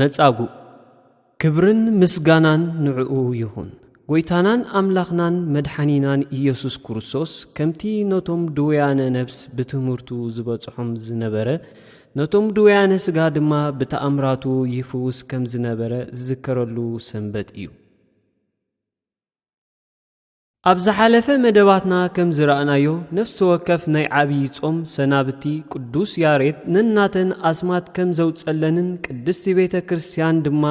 መጻጉእ ክብርን ምስጋናን ንዕኡ ይኹን። ጐይታናን ኣምላኽናን መድሓኒናን ኢየሱስ ክርስቶስ ከምቲ ነቶም ድውያነ ነፍስ ብትምህርቱ ዝበጽሖም ዝነበረ ነቶም ድውያነ ስጋ ድማ ብተኣምራቱ ይፍውስ ከም ዝነበረ ዝዝከረሉ ሰንበት እዩ። ኣብ ዝሓለፈ መደባትና ከም ዝረኣናዮ ነፍሲ ወከፍ ናይ ዓብዪ ጾም ሰናብቲ ቅዱስ ያሬድ ነናተን ኣስማት ከም ዘውጸለንን ቅድስቲ ቤተ ክርስቲያን ድማ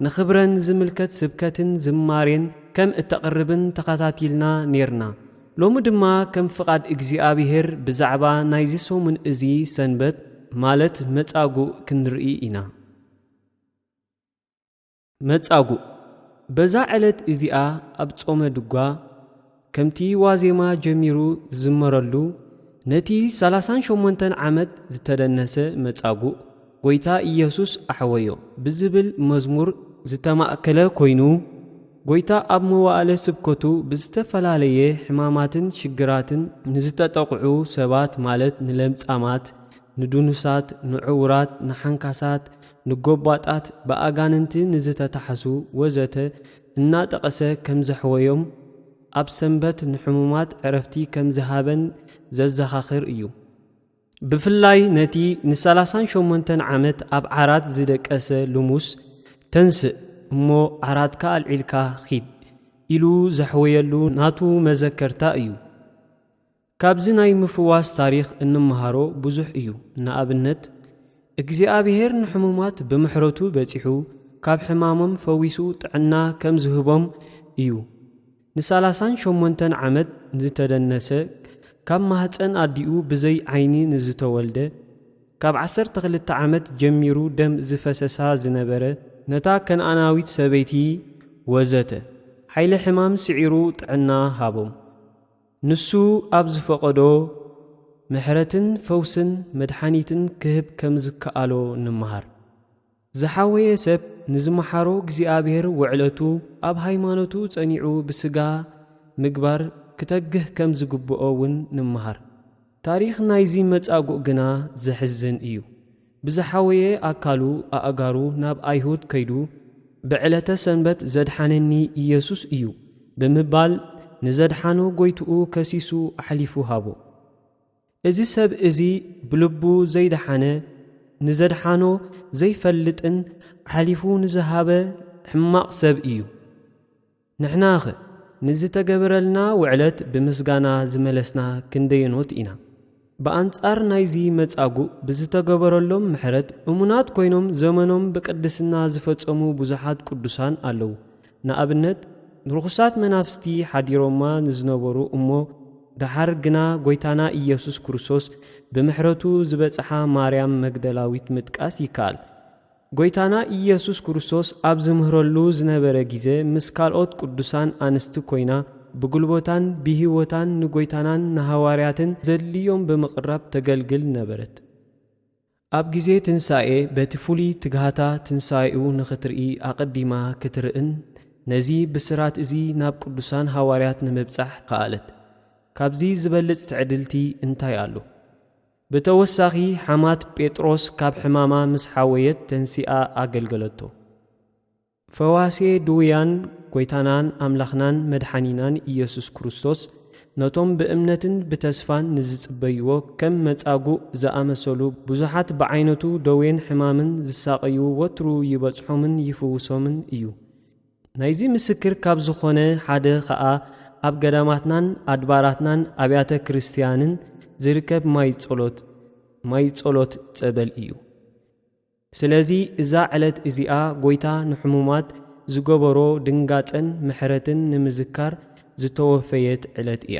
ንኽብረን ዝምልከት ስብከትን ዝማሬን ከም እተቕርብን ተኸታቲልና ኔርና። ሎሚ ድማ ከም ፍቓድ እግዚኣብሔር ብዛዕባ ናይዚ ሰሙን እዚ ሰንበት ማለት መጻጉእ ክንርኢ ኢና። መጻጉእ በዛ ዕለት እዚኣ ኣብ ጾመ ድጓ ከምቲ ዋዜማ ጀሚሩ ዝዝመረሉ ነቲ ሰላሳን ሸሞንተን ዓመት ዝተደነሰ መጻጉእ ጐይታ ኢየሱስ ኣሕወዮ ብዝብል መዝሙር ዝተማእከለ ኮይኑ ጐይታ ኣብ መዋእለ ስብከቱ ብዝተፈላለየ ሕማማትን ሽግራትን ንዝተጠቕዑ ሰባት ማለት ንለምጻማት፣ ንድኑሳት፣ ንዕውራት፣ ንሓንካሳት፣ ንጎባጣት፣ ብኣጋንንቲ ንዝተታሕዙ ወዘተ እናጠቐሰ ከምዘሕወዮም፣ ኣብ ሰንበት ንሕሙማት ዕረፍቲ ከምዝሃበን ዘዘኻኽር እዩ። ብፍላይ ነቲ ንሰላሳን ሸሞንተን ዓመት ኣብ ዓራት ዝደቀሰ ልሙስ፣ ተንስእ እሞ ዓራትካ ኣልዒልካ ኺድ ኢሉ ዘሕወየሉ ናቱ መዘከርታ እዩ። ካብዚ ናይ ምፍዋስ ታሪኽ እንመሃሮ ብዙሕ እዩ። ንኣብነት፣ እግዚኣብሄር ንሕሙማት ብምሕረቱ በጺሑ ካብ ሕማሞም ፈዊሱ ጥዕና ከም ዝህቦም እዩ። ንሳላሳን ሸሞንተን ዓመት ንዝተደነሰ፣ ካብ ማህጸን ኣዲኡ ብዘይ ዓይኒ ንዝተወልደ፣ ካብ ዓሰርተ ክልተ ዓመት ጀሚሩ ደም ዝፈሰሳ ዝነበረ፣ ነታ ከነኣናዊት ሰበይቲ ወዘተ፣ ሓይሊ ሕማም ስዒሩ ጥዕና ሃቦም። ንሱ ኣብ ዝፈቐዶ፣ ምሕረትን ፈውስን መድሓኒትን ክህብ ከም ዝከኣሎ ንመሃር። ዝሓወየ ሰብ ንዝመሓሮ እግዚኣብሔር ውዕለቱ ኣብ ሃይማኖቱ ጸኒዑ ብስጋ ምግባር ክተግህ ከም ዝግብኦ ውን ንመሃር። ታሪኽ ናይዚ መጻጉእ ግና ዘሕዝን እዩ። ብዝሓወየ ኣካሉ ኣእጋሩ ናብ ኣይሁድ ከይዱ ብዕለተ ሰንበት ዘድሓነኒ ኢየሱስ እዩ ብምባል ንዘድሓኖ ጎይትኡ ከሲሱ ኣሕሊፉ ሃቦ። እዚ ሰብ እዚ ብልቡ ዘይደሓነ ንዘድሓኖ ዘይፈልጥን ኣሕሊፉ ንዝሃበ ሕማቕ ሰብ እዩ። ንሕናኸ ንዝተገበረልና ውዕለት ብምስጋና ዝመለስና ክንደየኖት ኢና? ብኣንጻር ናይዚ መጻጉእ ብዝተገበረሎም ምሕረት እሙናት ኮይኖም ዘመኖም ብቅድስና ዝፈጸሙ ብዙሓት ቅዱሳን ኣለዉ። ንኣብነት ንርኹሳት መናፍስቲ ሓዲሮማ ንዝነበሩ እሞ ደሓር ግና ጎይታና ኢየሱስ ክርስቶስ ብምሕረቱ ዝበጽሓ ማርያም መግደላዊት ምጥቃስ ይከኣል። ጐይታና ኢየሱስ ክርስቶስ ኣብ ዝምህረሉ ዝነበረ ጊዘ ምስ ካልኦት ቅዱሳን ኣንስቲ ኮይና ብጉልቦታን ብሂወታን ንጐይታናን ንሃዋርያትን ዘድልዮም ብምቕራብ ተገልግል ነበረት። ኣብ ጊዜ ትንሣኤ በቲ ፍሉይ ትግሃታ ትንሣኤኡ ንኽትርኢ ኣቐዲማ ክትርእን ነዚ ብስራት እዚ ናብ ቅዱሳን ሃዋርያት ንምብጻሕ ከኣለት። ካብዚ ዝበልጽ ትዕድልቲ እንታይ ኣሎ? ብተወሳኺ ሓማት ጴጥሮስ ካብ ሕማማ ምስ ሓወየት ተንሲኣ ኣገልገለቶ። ፈዋሴ ድውያን ጐይታናን ኣምላኽናን መድሓኒናን ኢየሱስ ክርስቶስ ነቶም ብእምነትን ብተስፋን ንዝጽበይዎ ከም መጻጉእ ዝኣመሰሉ ብዙሓት ብዓይነቱ ደዌን ሕማምን ዝሳቐዩ ወትሩ ይበጽሖምን ይፍውሶምን እዩ። ናይዚ ምስክር ካብ ዝኾነ ሓደ ኸኣ ኣብ ገዳማትናን ኣድባራትናን ኣብያተ ክርስትያንን ዝርከብ ማይ ጸሎት ማይ ጸሎት ጸበል እዩ። ስለዚ እዛ ዕለት እዚኣ ጎይታ ንሕሙማት ዝገበሮ ድንጋጸን ምሕረትን ንምዝካር ዝተወፈየት ዕለት እያ።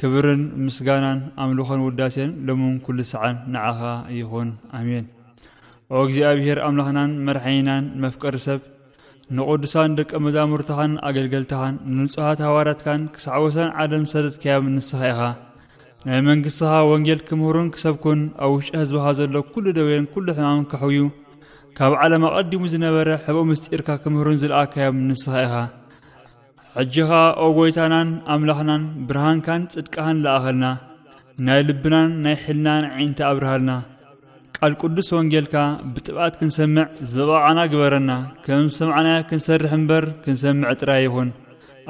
ክብርን ምስጋናን ኣምልኾን ውዳሴን ሎምን ኩሉ ሰዓን ንዓኻ ይኹን ኣሜን። ኦ እግዚኣብሔር ኣምላኽናን መርሓይናን መፍቀሪ ሰብ ንቕዱሳን ደቀ መዛሙርትኻን ኣገልገልትኻን ንንጹሃት ሃዋርያትካን ክሳዕ ወሰን ዓለም ሰደትካዮም ንስኻ ኢኻ ናይ መንግሥትኻ ወንጌል ክምህሩን ክሰብኩን ኣብ ውሽጢ ህዝብኻ ዘሎ ኩሉ ደዌን ኩሉ ሕማምን ከሕውዩ ካብ ዓለም ኣቐዲሙ ዝነበረ ሕብኦ ምስጢርካ ክምህሩን ዝለኣካዮም ንስኻ ኢኻ ሕጂ ኸኣ ኦ ጐይታናን ኣምላኽናን ብርሃንካን ጽድቅኻን ለኣኸልና ናይ ልብናን ናይ ሕልናን ኣዒንቲ ኣብርሃልና ቃል ቅዱስ ወንጌልካ ብጥብኣት ክንሰምዕ ዝበቓዕና ግበረና ከም ዝሰምዕናዮ ክንሰርሕ እምበር ክንሰምዕ ጥራይ ይኹን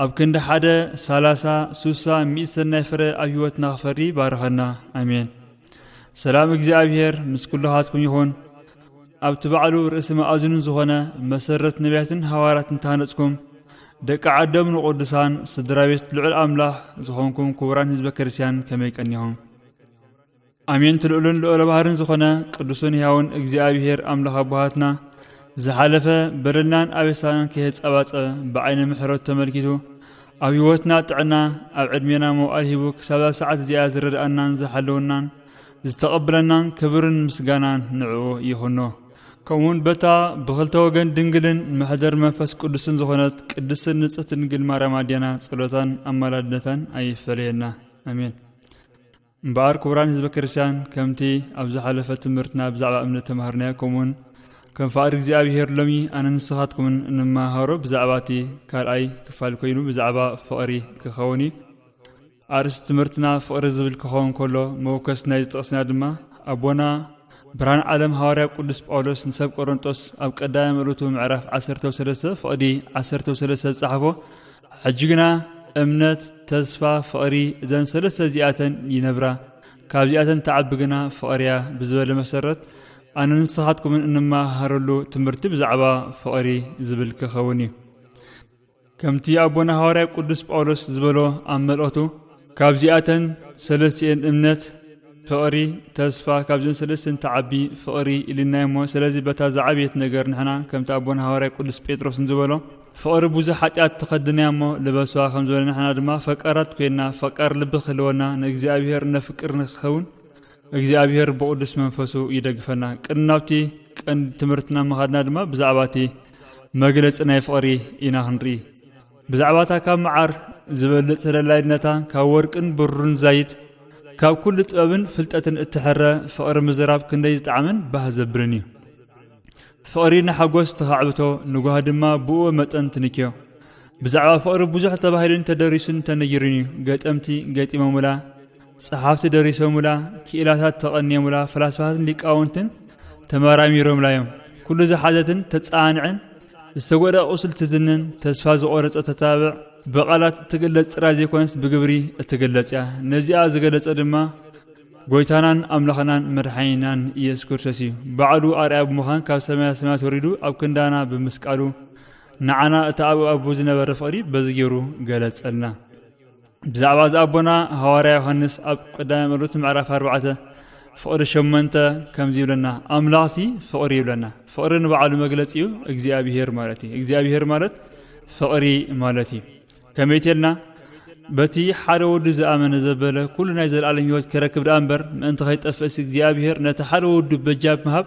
ኣብ ክንዲ ሓደ ሳላሳ ሱሳ ሚእቲ ሰናይ ፍረ ኣብ ህይወትና ክፈሪ ባርኸና ኣሜን ሰላም እግዚኣብሔር ምስ ኩልኻትኩም ይኹን ኣብቲ ባዕሉ ርእሲ መኣዝኑ ዝኾነ መሰረት ነቢያትን ሃዋርያትን ታነጽኩም ደቂ ዓዶም ንቕዱሳን ስድራ ቤት ልዑል ኣምላኽ ዝኾንኩም ክቡራን ህዝበ ክርስቲያን ከመይ ቀኒኹም ኣሜን ትልኡልን ልዑለ ባህርን ዝኾነ ቅዱስን ሕያውን እግዚኣብሔር ኣምላኽ ኣቦሃትና ዝሓለፈ በደልናን ኣበሳናን ከየጸባጸበ ብዓይነ ምሕረቱ ተመልኪቱ ኣብ ህይወትና ጥዕና ኣብ ዕድሜና መውዓል ሂቡ ክሳብዛ ሰዓት እዚኣ ዝረድኣናን ዝሓለወናን ዝተቐብለናን ክብርን ምስጋናን ንዕኡ ይኹኖ። ከምኡውን በታ ብኽልተ ወገን ድንግልን መሕደር መንፈስ ቅዱስን ዝኾነት ቅድስትን ንጽሕት ድንግል ማርያም ኣዴና ጸሎታን ኣማላድነታን ኣይፈለየና። ኣሜን። እምበኣር ክቡራን ህዝበ ክርስቲያን ከምቲ ኣብ ዝሓለፈ ትምህርትና ብዛዕባ እምነት ተማሃርናዮ ከምኡውን ከም ፍቓድ እግዚኣብሄር ሎሚ ኣነ ንስኻትኩምን እንመሃሮ ብዛዕባ እቲ ካልኣይ ክፋል ኮይኑ ብዛዕባ ፍቕሪ ክኸውን እዩ ኣርእስቲ ትምህርትና ፍቕሪ ዝብል ክኸውን ከሎ መወከስ ናይ ዝጥቕስና ድማ ኣቦና ብርሃን ዓለም ሃዋርያ ቅዱስ ጳውሎስ ንሰብ ቆሮንጦስ ኣብ ቀዳማይ መልእቱ ምዕራፍ 13 ፍቕዲ 13 ዝጸሓፎ ሕጂ ግና እምነት፣ ተስፋ፣ ፍቕሪ እዘን ሰለስተ እዚኣተን ይነብራ፣ ካብዚኣተን ትዓቢ ግና ፍቕሪ እያ ብዝበለ መሰረት ኣነ ንስኻትኩምን እንመሃሃረሉ ትምህርቲ ብዛዕባ ፍቕሪ ዝብል ክኸውን እዩ ከምቲ ኣቦና ሃዋርያ ቅዱስ ጳውሎስ ዝበሎ ኣብ መልእኽቱ ካብዚኣተን ሰለስቲኤን እምነት፣ ፍቕሪ፣ ተስፋ ካብዘን ሰለስቲኤን ትዓቢ ፍቕሪ ኢልናዮ እሞ ስለዚ በታ ዝዓበየት ነገር ንሕና ከምቲ ኣቦና ሃዋርያ ቅዱስ ጴጥሮስ ንዝበሎ ፍቕሪ ብዙሕ ሓጢኣት ትኸድንያ እሞ ልበስዋ ከምዝበለ ንሕና ድማ ፈቃራት ኮይንና ፈቃር ልቢ ክህልወና ንእግዚኣብሔር እነፍቅር ንክኸውን እግዚኣብሔር ብቕዱስ መንፈሱ ይደግፈና። ቅድሚ ናብቲ ቀንዲ ትምህርትና ምኻድና ድማ ብዛዕባ እቲ መግለጺ ናይ ፍቕሪ ኢና ክንርኢ። ብዛዕባ እታ ካብ መዓር ዝበልጽ ተደላይነታ ካብ ወርቅን ብሩርን ዛይድ ካብ ኩሉ ጥበብን ፍልጠትን እትሕረ ፍቕሪ ምዝራብ ክንደይ ዝጠዓምን ባህ ዘብልን እዩ ፍቕሪ ንሓጎስ ተኻዕብቶ ንጓህ ድማ ብኡ መጠን ትንክዮ ብዛዕባ ፍቕሪ ብዙሕ ተባሂሉን ተደሪሱን ተነጊሩን እዩ ገጠምቲ ገጢሞምላ ጸሓፍቲ ደሪሶሙላ፣ ክኢላታት ተቐንየሙላ፣ ፈላስፋታትን ሊቃውንትን ተመራሚሮምላ እዮም። ኩሉ ዝሓዘትን ተጻንዕን፣ ዝተጎድኣ ቁስሊ ትዝንን፣ ተስፋ ዝቖረጸ ተታብዕ፣ ብቓላት እትግለጽ ጥራይ ዘይኮነስ ብግብሪ እትግለጽ እያ። ነዚኣ ዝገለጸ ድማ ጎይታናን ኣምላኽናን መድሓኒናን ኢየሱስ ክርስቶስ እዩ። ባዕሉ ኣርኣያ ብምዃን ካብ ሰማያ ሰማያት ወሪዱ ኣብ ክንዳና ብምስቃሉ ንዓና እቲ ኣብ ኣቦ ዝነበረ ፍቕሪ በዚ ገይሩ ገለጸልና። ብዛዕባ እዚ ኣቦና ሃዋርያ ዮሃንስ ኣብ ቀዳማይ መልእኽቱ ምዕራፍ ኣርባዕተ ፍቕሪ ሸመንተ ከምዚ ይብለና ኣምላኽሲ ፍቕሪ ይብለና ፍቕሪ ንበዓሉ መግለፂ እዩ እግዚኣብሄር ማለት እዩ እግዚኣብሄር ማለት ፍቕሪ ማለት እዩ ከመይ ተልና በቲ ሓደ ወዱ ዝኣመነ ዘበለ ኩሉ ናይ ዘለኣለም ህይወት ክረክብ ደኣ እምበር ምእንቲ ከይጠፍእስ እግዚኣብሄር ነቲ ሓደ ወዱ በጃ ብምሃብ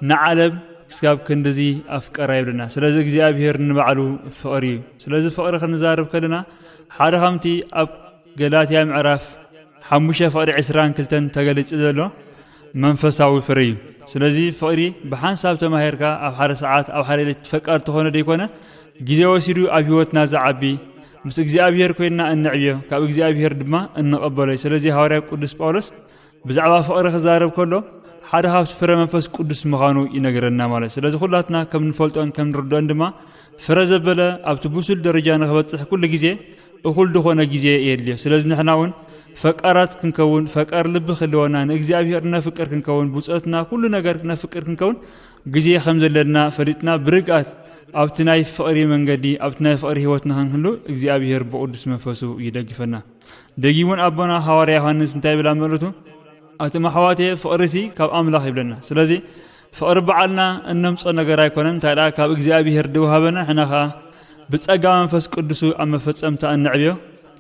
ንዓለም ክስጋብ ክንድዚ ኣፍቀራ ይብለና ስለዚ እግዚኣብሄር ንባዕሉ ፍቕሪ እዩ ስለዚ ፍቕሪ ክንዛርብ ከለና ሓደ ከምቲ ኣብ ገላትያ ምዕራፍ ሓሙሽተ ፍቕሪ ዕስራን ክልተን ተገሊጹ ዘሎ መንፈሳዊ ፍረ እዩ ስለዚ ፍቕሪ ብሓንሳብ ተማሂርካ ኣብ ሓደ ሰዓት ኣብ ሓደ ሌት ፈቃድ ተኾነ ደይኮነ ግዜ ወሲዱ ኣብ ህይወትና ዝዓቢ ምስ እግዚኣብሄር ኮይንና እንዕብዮ ካብ እግዚኣብሄር ድማ እንቐበሎ እዩ ስለዚ ሃዋርያ ቅዱስ ጳውሎስ ብዛዕባ ፍቕሪ ክዛረብ ከሎ ሓደ ካብቲ ፍረ መንፈስ ቅዱስ ምዃኑ ይነግረና ማለት ስለዚ ኩላትና ከም ንፈልጦን ከም ንርድኦን ድማ ፍረ ዘበለ ኣብቲ ብሱል ደረጃ ንክበፅሕ ኩሉ ግዜ እኹል ዝኾነ ግዜ የድልዮ ስለዚ ንሕና እውን ፈቃራት ክንከውን ፈቃር ልቢ ክህልወና ንእግዚኣብሔር ነፍቅር ክንከውን ብፆትና ኩሉ ነገር ክነፍቅር ክንከውን ግዜ ከም ዘለና ፈሊጥና ብርግኣት ኣብቲ ናይ ፍቕሪ መንገዲ ኣብቲ ናይ ፍቕሪ ህይወት ንክንህሉ እግዚኣብሔር ብቅዱስ መንፈሱ ይደግፈና ደጊሙን ኣቦና ሃዋርያ ዮሃንስ እንታይ ይብል ኣብ መልእቱ ኣቶም ኣሕዋትየ ፍቕሪ ሲ ካብ ኣምላኽ ይብለና ስለዚ ፍቕሪ በዓልና እነምጾ ነገር ኣይኮነን እንታይ ደኣ ካብ እግዚኣብሄር ድውሃበና ሕና ኸኣ ብጸጋ መንፈስ ቅዱሱ ኣብ መፈጸምታ እንዕብዮ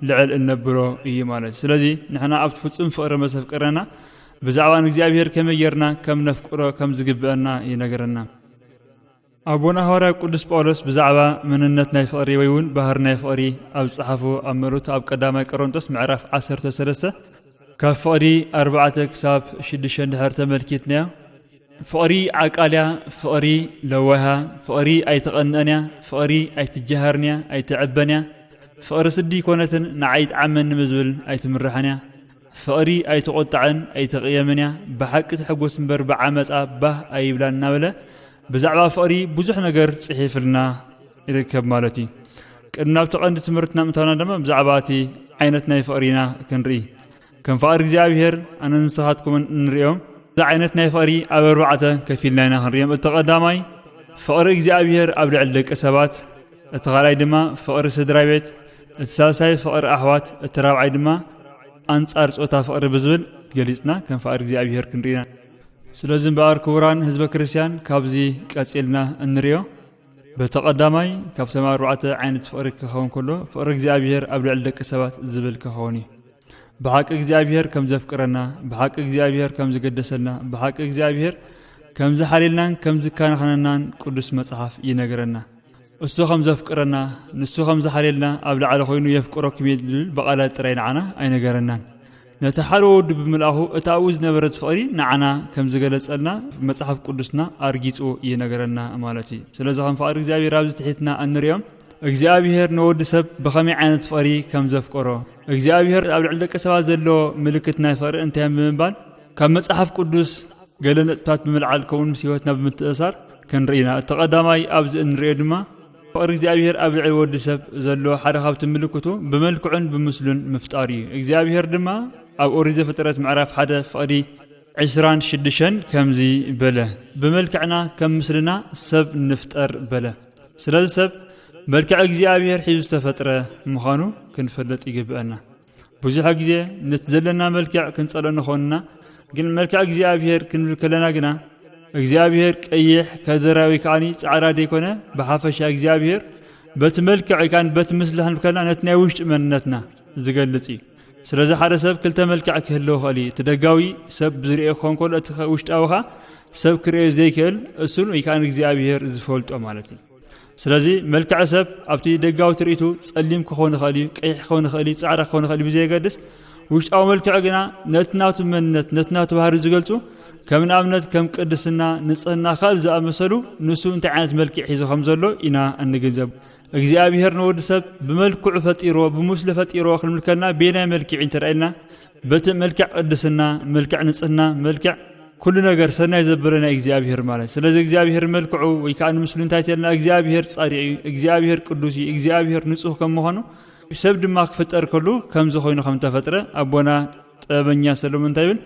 ልዕል እነብሎ እዩ ማለት ስለዚ ንሕና ኣብቲ ፍጹም ፍቕሪ መሰፍቅረና ብዛዕባ ንእግዚኣብሄር ከመይ ጌርና ከም ነፍቅሮ ከም ዝግብአና ይነገረና ኣቦና ሃዋርያ ቅዱስ ጳውሎስ ብዛዕባ መንነት ናይ ፍቕሪ ወይ እውን ባህር ናይ ፍቕሪ ኣብ ዝጸሓፎ ኣብ መልእኽቱ ኣብ ቀዳማይ ቀሮንጦስ ምዕራፍ ዓሰርተ ሰለስተ ካብ ፍቕሪ ኣርባዕተ ክሳብ ሽዱሽተ እንድሕር ተመልኪትናዮ ፍቕሪ ዓቃልያ ፍቕሪ ለዋሃ ፍቕሪ ኣይትቐንአን እያ ፍቕሪ ኣይትጀሃርን እያ ኣይትዕበን እያ ፍቕሪ ስዲ ኮነትን ንዓይ ይጥዓመኒ ብዝብል ኣይትምራሕን እያ ፍቕሪ ኣይትቖጣዕን ኣይትቕየምን እያ፣ ብሓቂ ትሕጎስ እምበር ብዓመጻ ባህ ኣይብላን እናበለ ብዛዕባ ፍቕሪ ብዙሕ ነገር ጽሒፍልና ይርከብ ማለት እዩ። ቅድሚ ናብቲ ቀንዲ ትምህርትና ምእታውና ድማ ብዛዕባ እቲ ዓይነት ናይ ፍቕሪ ኢና ክንርኢ። ከም ፍቕሪ እግዚኣብሔር ኣነ ንስኻትኩምን እንርእዮም እዚ ዓይነት ናይ ፍቕሪ ኣብ ኣርባዕተ ከፊልና ኢና ክንርእዮም። እቲ ቀዳማይ ፍቕሪ እግዚኣብሔር ኣብ ልዕሊ ደቂ ሰባት እቲ ካልኣይ ድማ ፍቕሪ ስድራ ቤት፣ እቲ ሳልሳይ ፍቕሪ ኣሕዋት፣ እቲ ራብዓይ ድማ ኣንጻር ጾታ ፍቕሪ ብዝብል ገሊጽና ከም ፍቓድ እግዚኣብሔር ክንርኢ ኢና። ስለዚ እምበኣር ክቡራን ህዝበ ክርስቲያን ካብዚ ቀጺልና እንርእዮ በቲ ቀዳማይ ካብቶም ኣርባዕተ ዓይነት ፍቕሪ ክኸውን ከሎ ፍቕሪ እግዚኣብሔር ኣብ ልዕሊ ደቂ ሰባት ዝብል ክኸውን እዩ። ብሓቂ እግዚኣብሔር ከም ዘፍቅረና፣ ብሓቂ እግዚኣብሔር ከም ዝገደሰልና፣ ብሓቂ እግዚኣብሔር ከም ዝሓልየልናን ከም ዝከናኸነናን ቅዱስ መጽሓፍ ይነግረና። እሱ ከም ዘፍቅረና፣ ንሱ ከም ዝሓልየልና ኣብ ላዕሊ ኮይኑ የፍቅረኩም እየ ዝብል ብቓላት ጥራይ ንዓና ኣይነገረናን። ነቲ ሓደ ወዱ ብምልኣኹ እቲ ኣብኡ ዝነበረት ፍቕሪ ንዓና ከም ዝገለጸልና መጽሓፍ ቅዱስና ኣርጊጹ ይነገረና ማለት እዩ ስለዚ ከም ፍቓድ እግዚኣብሔር ኣብዚ ትሒትና እንሪኦም እግዚኣብሄር ንወዲ ሰብ ብኸመይ ዓይነት ፍቕሪ ከም ዘፍቀሮ እግዚኣብሄር ኣብ ልዕሊ ደቂ ሰባት ዘለዎ ምልክት ናይ ፍቕሪ እንታይ ብምባል ካብ መጽሓፍ ቅዱስ ገለ ነጥብታት ብምልዓል ከምኡውን ምስ ህይወትና ብምትእሳር ክንርኢ ኢና እቲ ቀዳማይ ኣብዚ እንሪኦ ድማ ፍቕሪ እግዚኣብሄር ኣብ ልዕሊ ወዲ ሰብ ዘለዎ ሓደ ካብቲ ምልክቱ ብመልክዑን ብምስሉን ምፍጣር እዩ እግዚኣብሄር ድማ ኣብ ኦሪት ዘፍጥረት ምዕራፍ ሓደ ፍቕዲ ዕስራን ሽዱሸን ከምዚ በለ ብመልክዕና ከም ምስልና ሰብ ንፍጠር በለ ስለዚ ሰብ መልክዕ እግዚኣብሔር ሒዙ ዝተፈጥረ ምዃኑ ክንፈልጥ ይግብአና። ብዙሕ ግዜ ነቲ ዘለና መልክዕ ክንጸልኦ ንኾንና፣ ግን መልክዕ እግዚኣብሔር ክንብል ከለና ግና እግዚኣብሔር ቀይሕ ከደራዊ ከዓኒ ጻዕዳ ደይኮነ ብሓፈሻ እግዚኣብሔር በቲ መልክዕ ካን በቲ ምስልሕን ከለና ነቲ ናይ ውሽጢ መንነትና ዝገልጽ እዩ። ስለዚ ሓደ ሰብ ክልተ መልክዕ ክህልዎ ይኽእል እዩ እቲ ደጋዊ ሰብ ብዝርኦ ክኸውን ከሎ እቲ ውሽጣዊኻ ሰብ ክርእዮ ዘይክእል እሱን ወይ ከዓ ንእግዚኣብሄር ዝፈልጦ ማለት እዩ ስለዚ መልክዕ ሰብ ኣብቲ ደጋዊ ትርኢቱ ጸሊም ክኸውን ይኽእል እዩ ቀይሕ ክኸውን ይኽእል እዩ ፃዕዳ ክኸውን ይኽእል ብዘየገድስ ውሽጣዊ መልክዕ ግና ነቲ ናቱ መንነት ነቲ ናቱ ባህሪ ዝገልፁ ከም ንኣብነት ከም ቅድስና ንፅህና ካልእ ዝኣመሰሉ ንሱ እንታይ ዓይነት መልክዕ ሒዞ ከም ዘሎ ኢና እንግንዘብ እግዚኣብሔር ንወዲ ሰብ ብመልክዑ ፈጢሮ ብምስሉ ፈጢሮ ክንምልከና ቤናይ መልክዕ እንተርኢልና በቲ መልክዕ ቅድስና መልክዕ ንጽህና መልክዕ ኩሉ ነገር ሰናይ ዘበለ ናይ እግዚኣብሄር ማለት ስለዚ እግዚኣብሄር መልክዑ ወይ ከዓ ንምስሉ እንታይ ተልና እግዚኣብሄር ፃዲቅ እዩ እግዚኣብሄር ቅዱስ እዩ እግዚኣብሄር ንፁህ ከም ምዃኑ ሰብ ድማ ክፍጠር ከሉ ከምዚ ኮይኑ ከም ተፈጥረ ኣቦና ጥበበኛ ሰለሙን እንታይ ይብል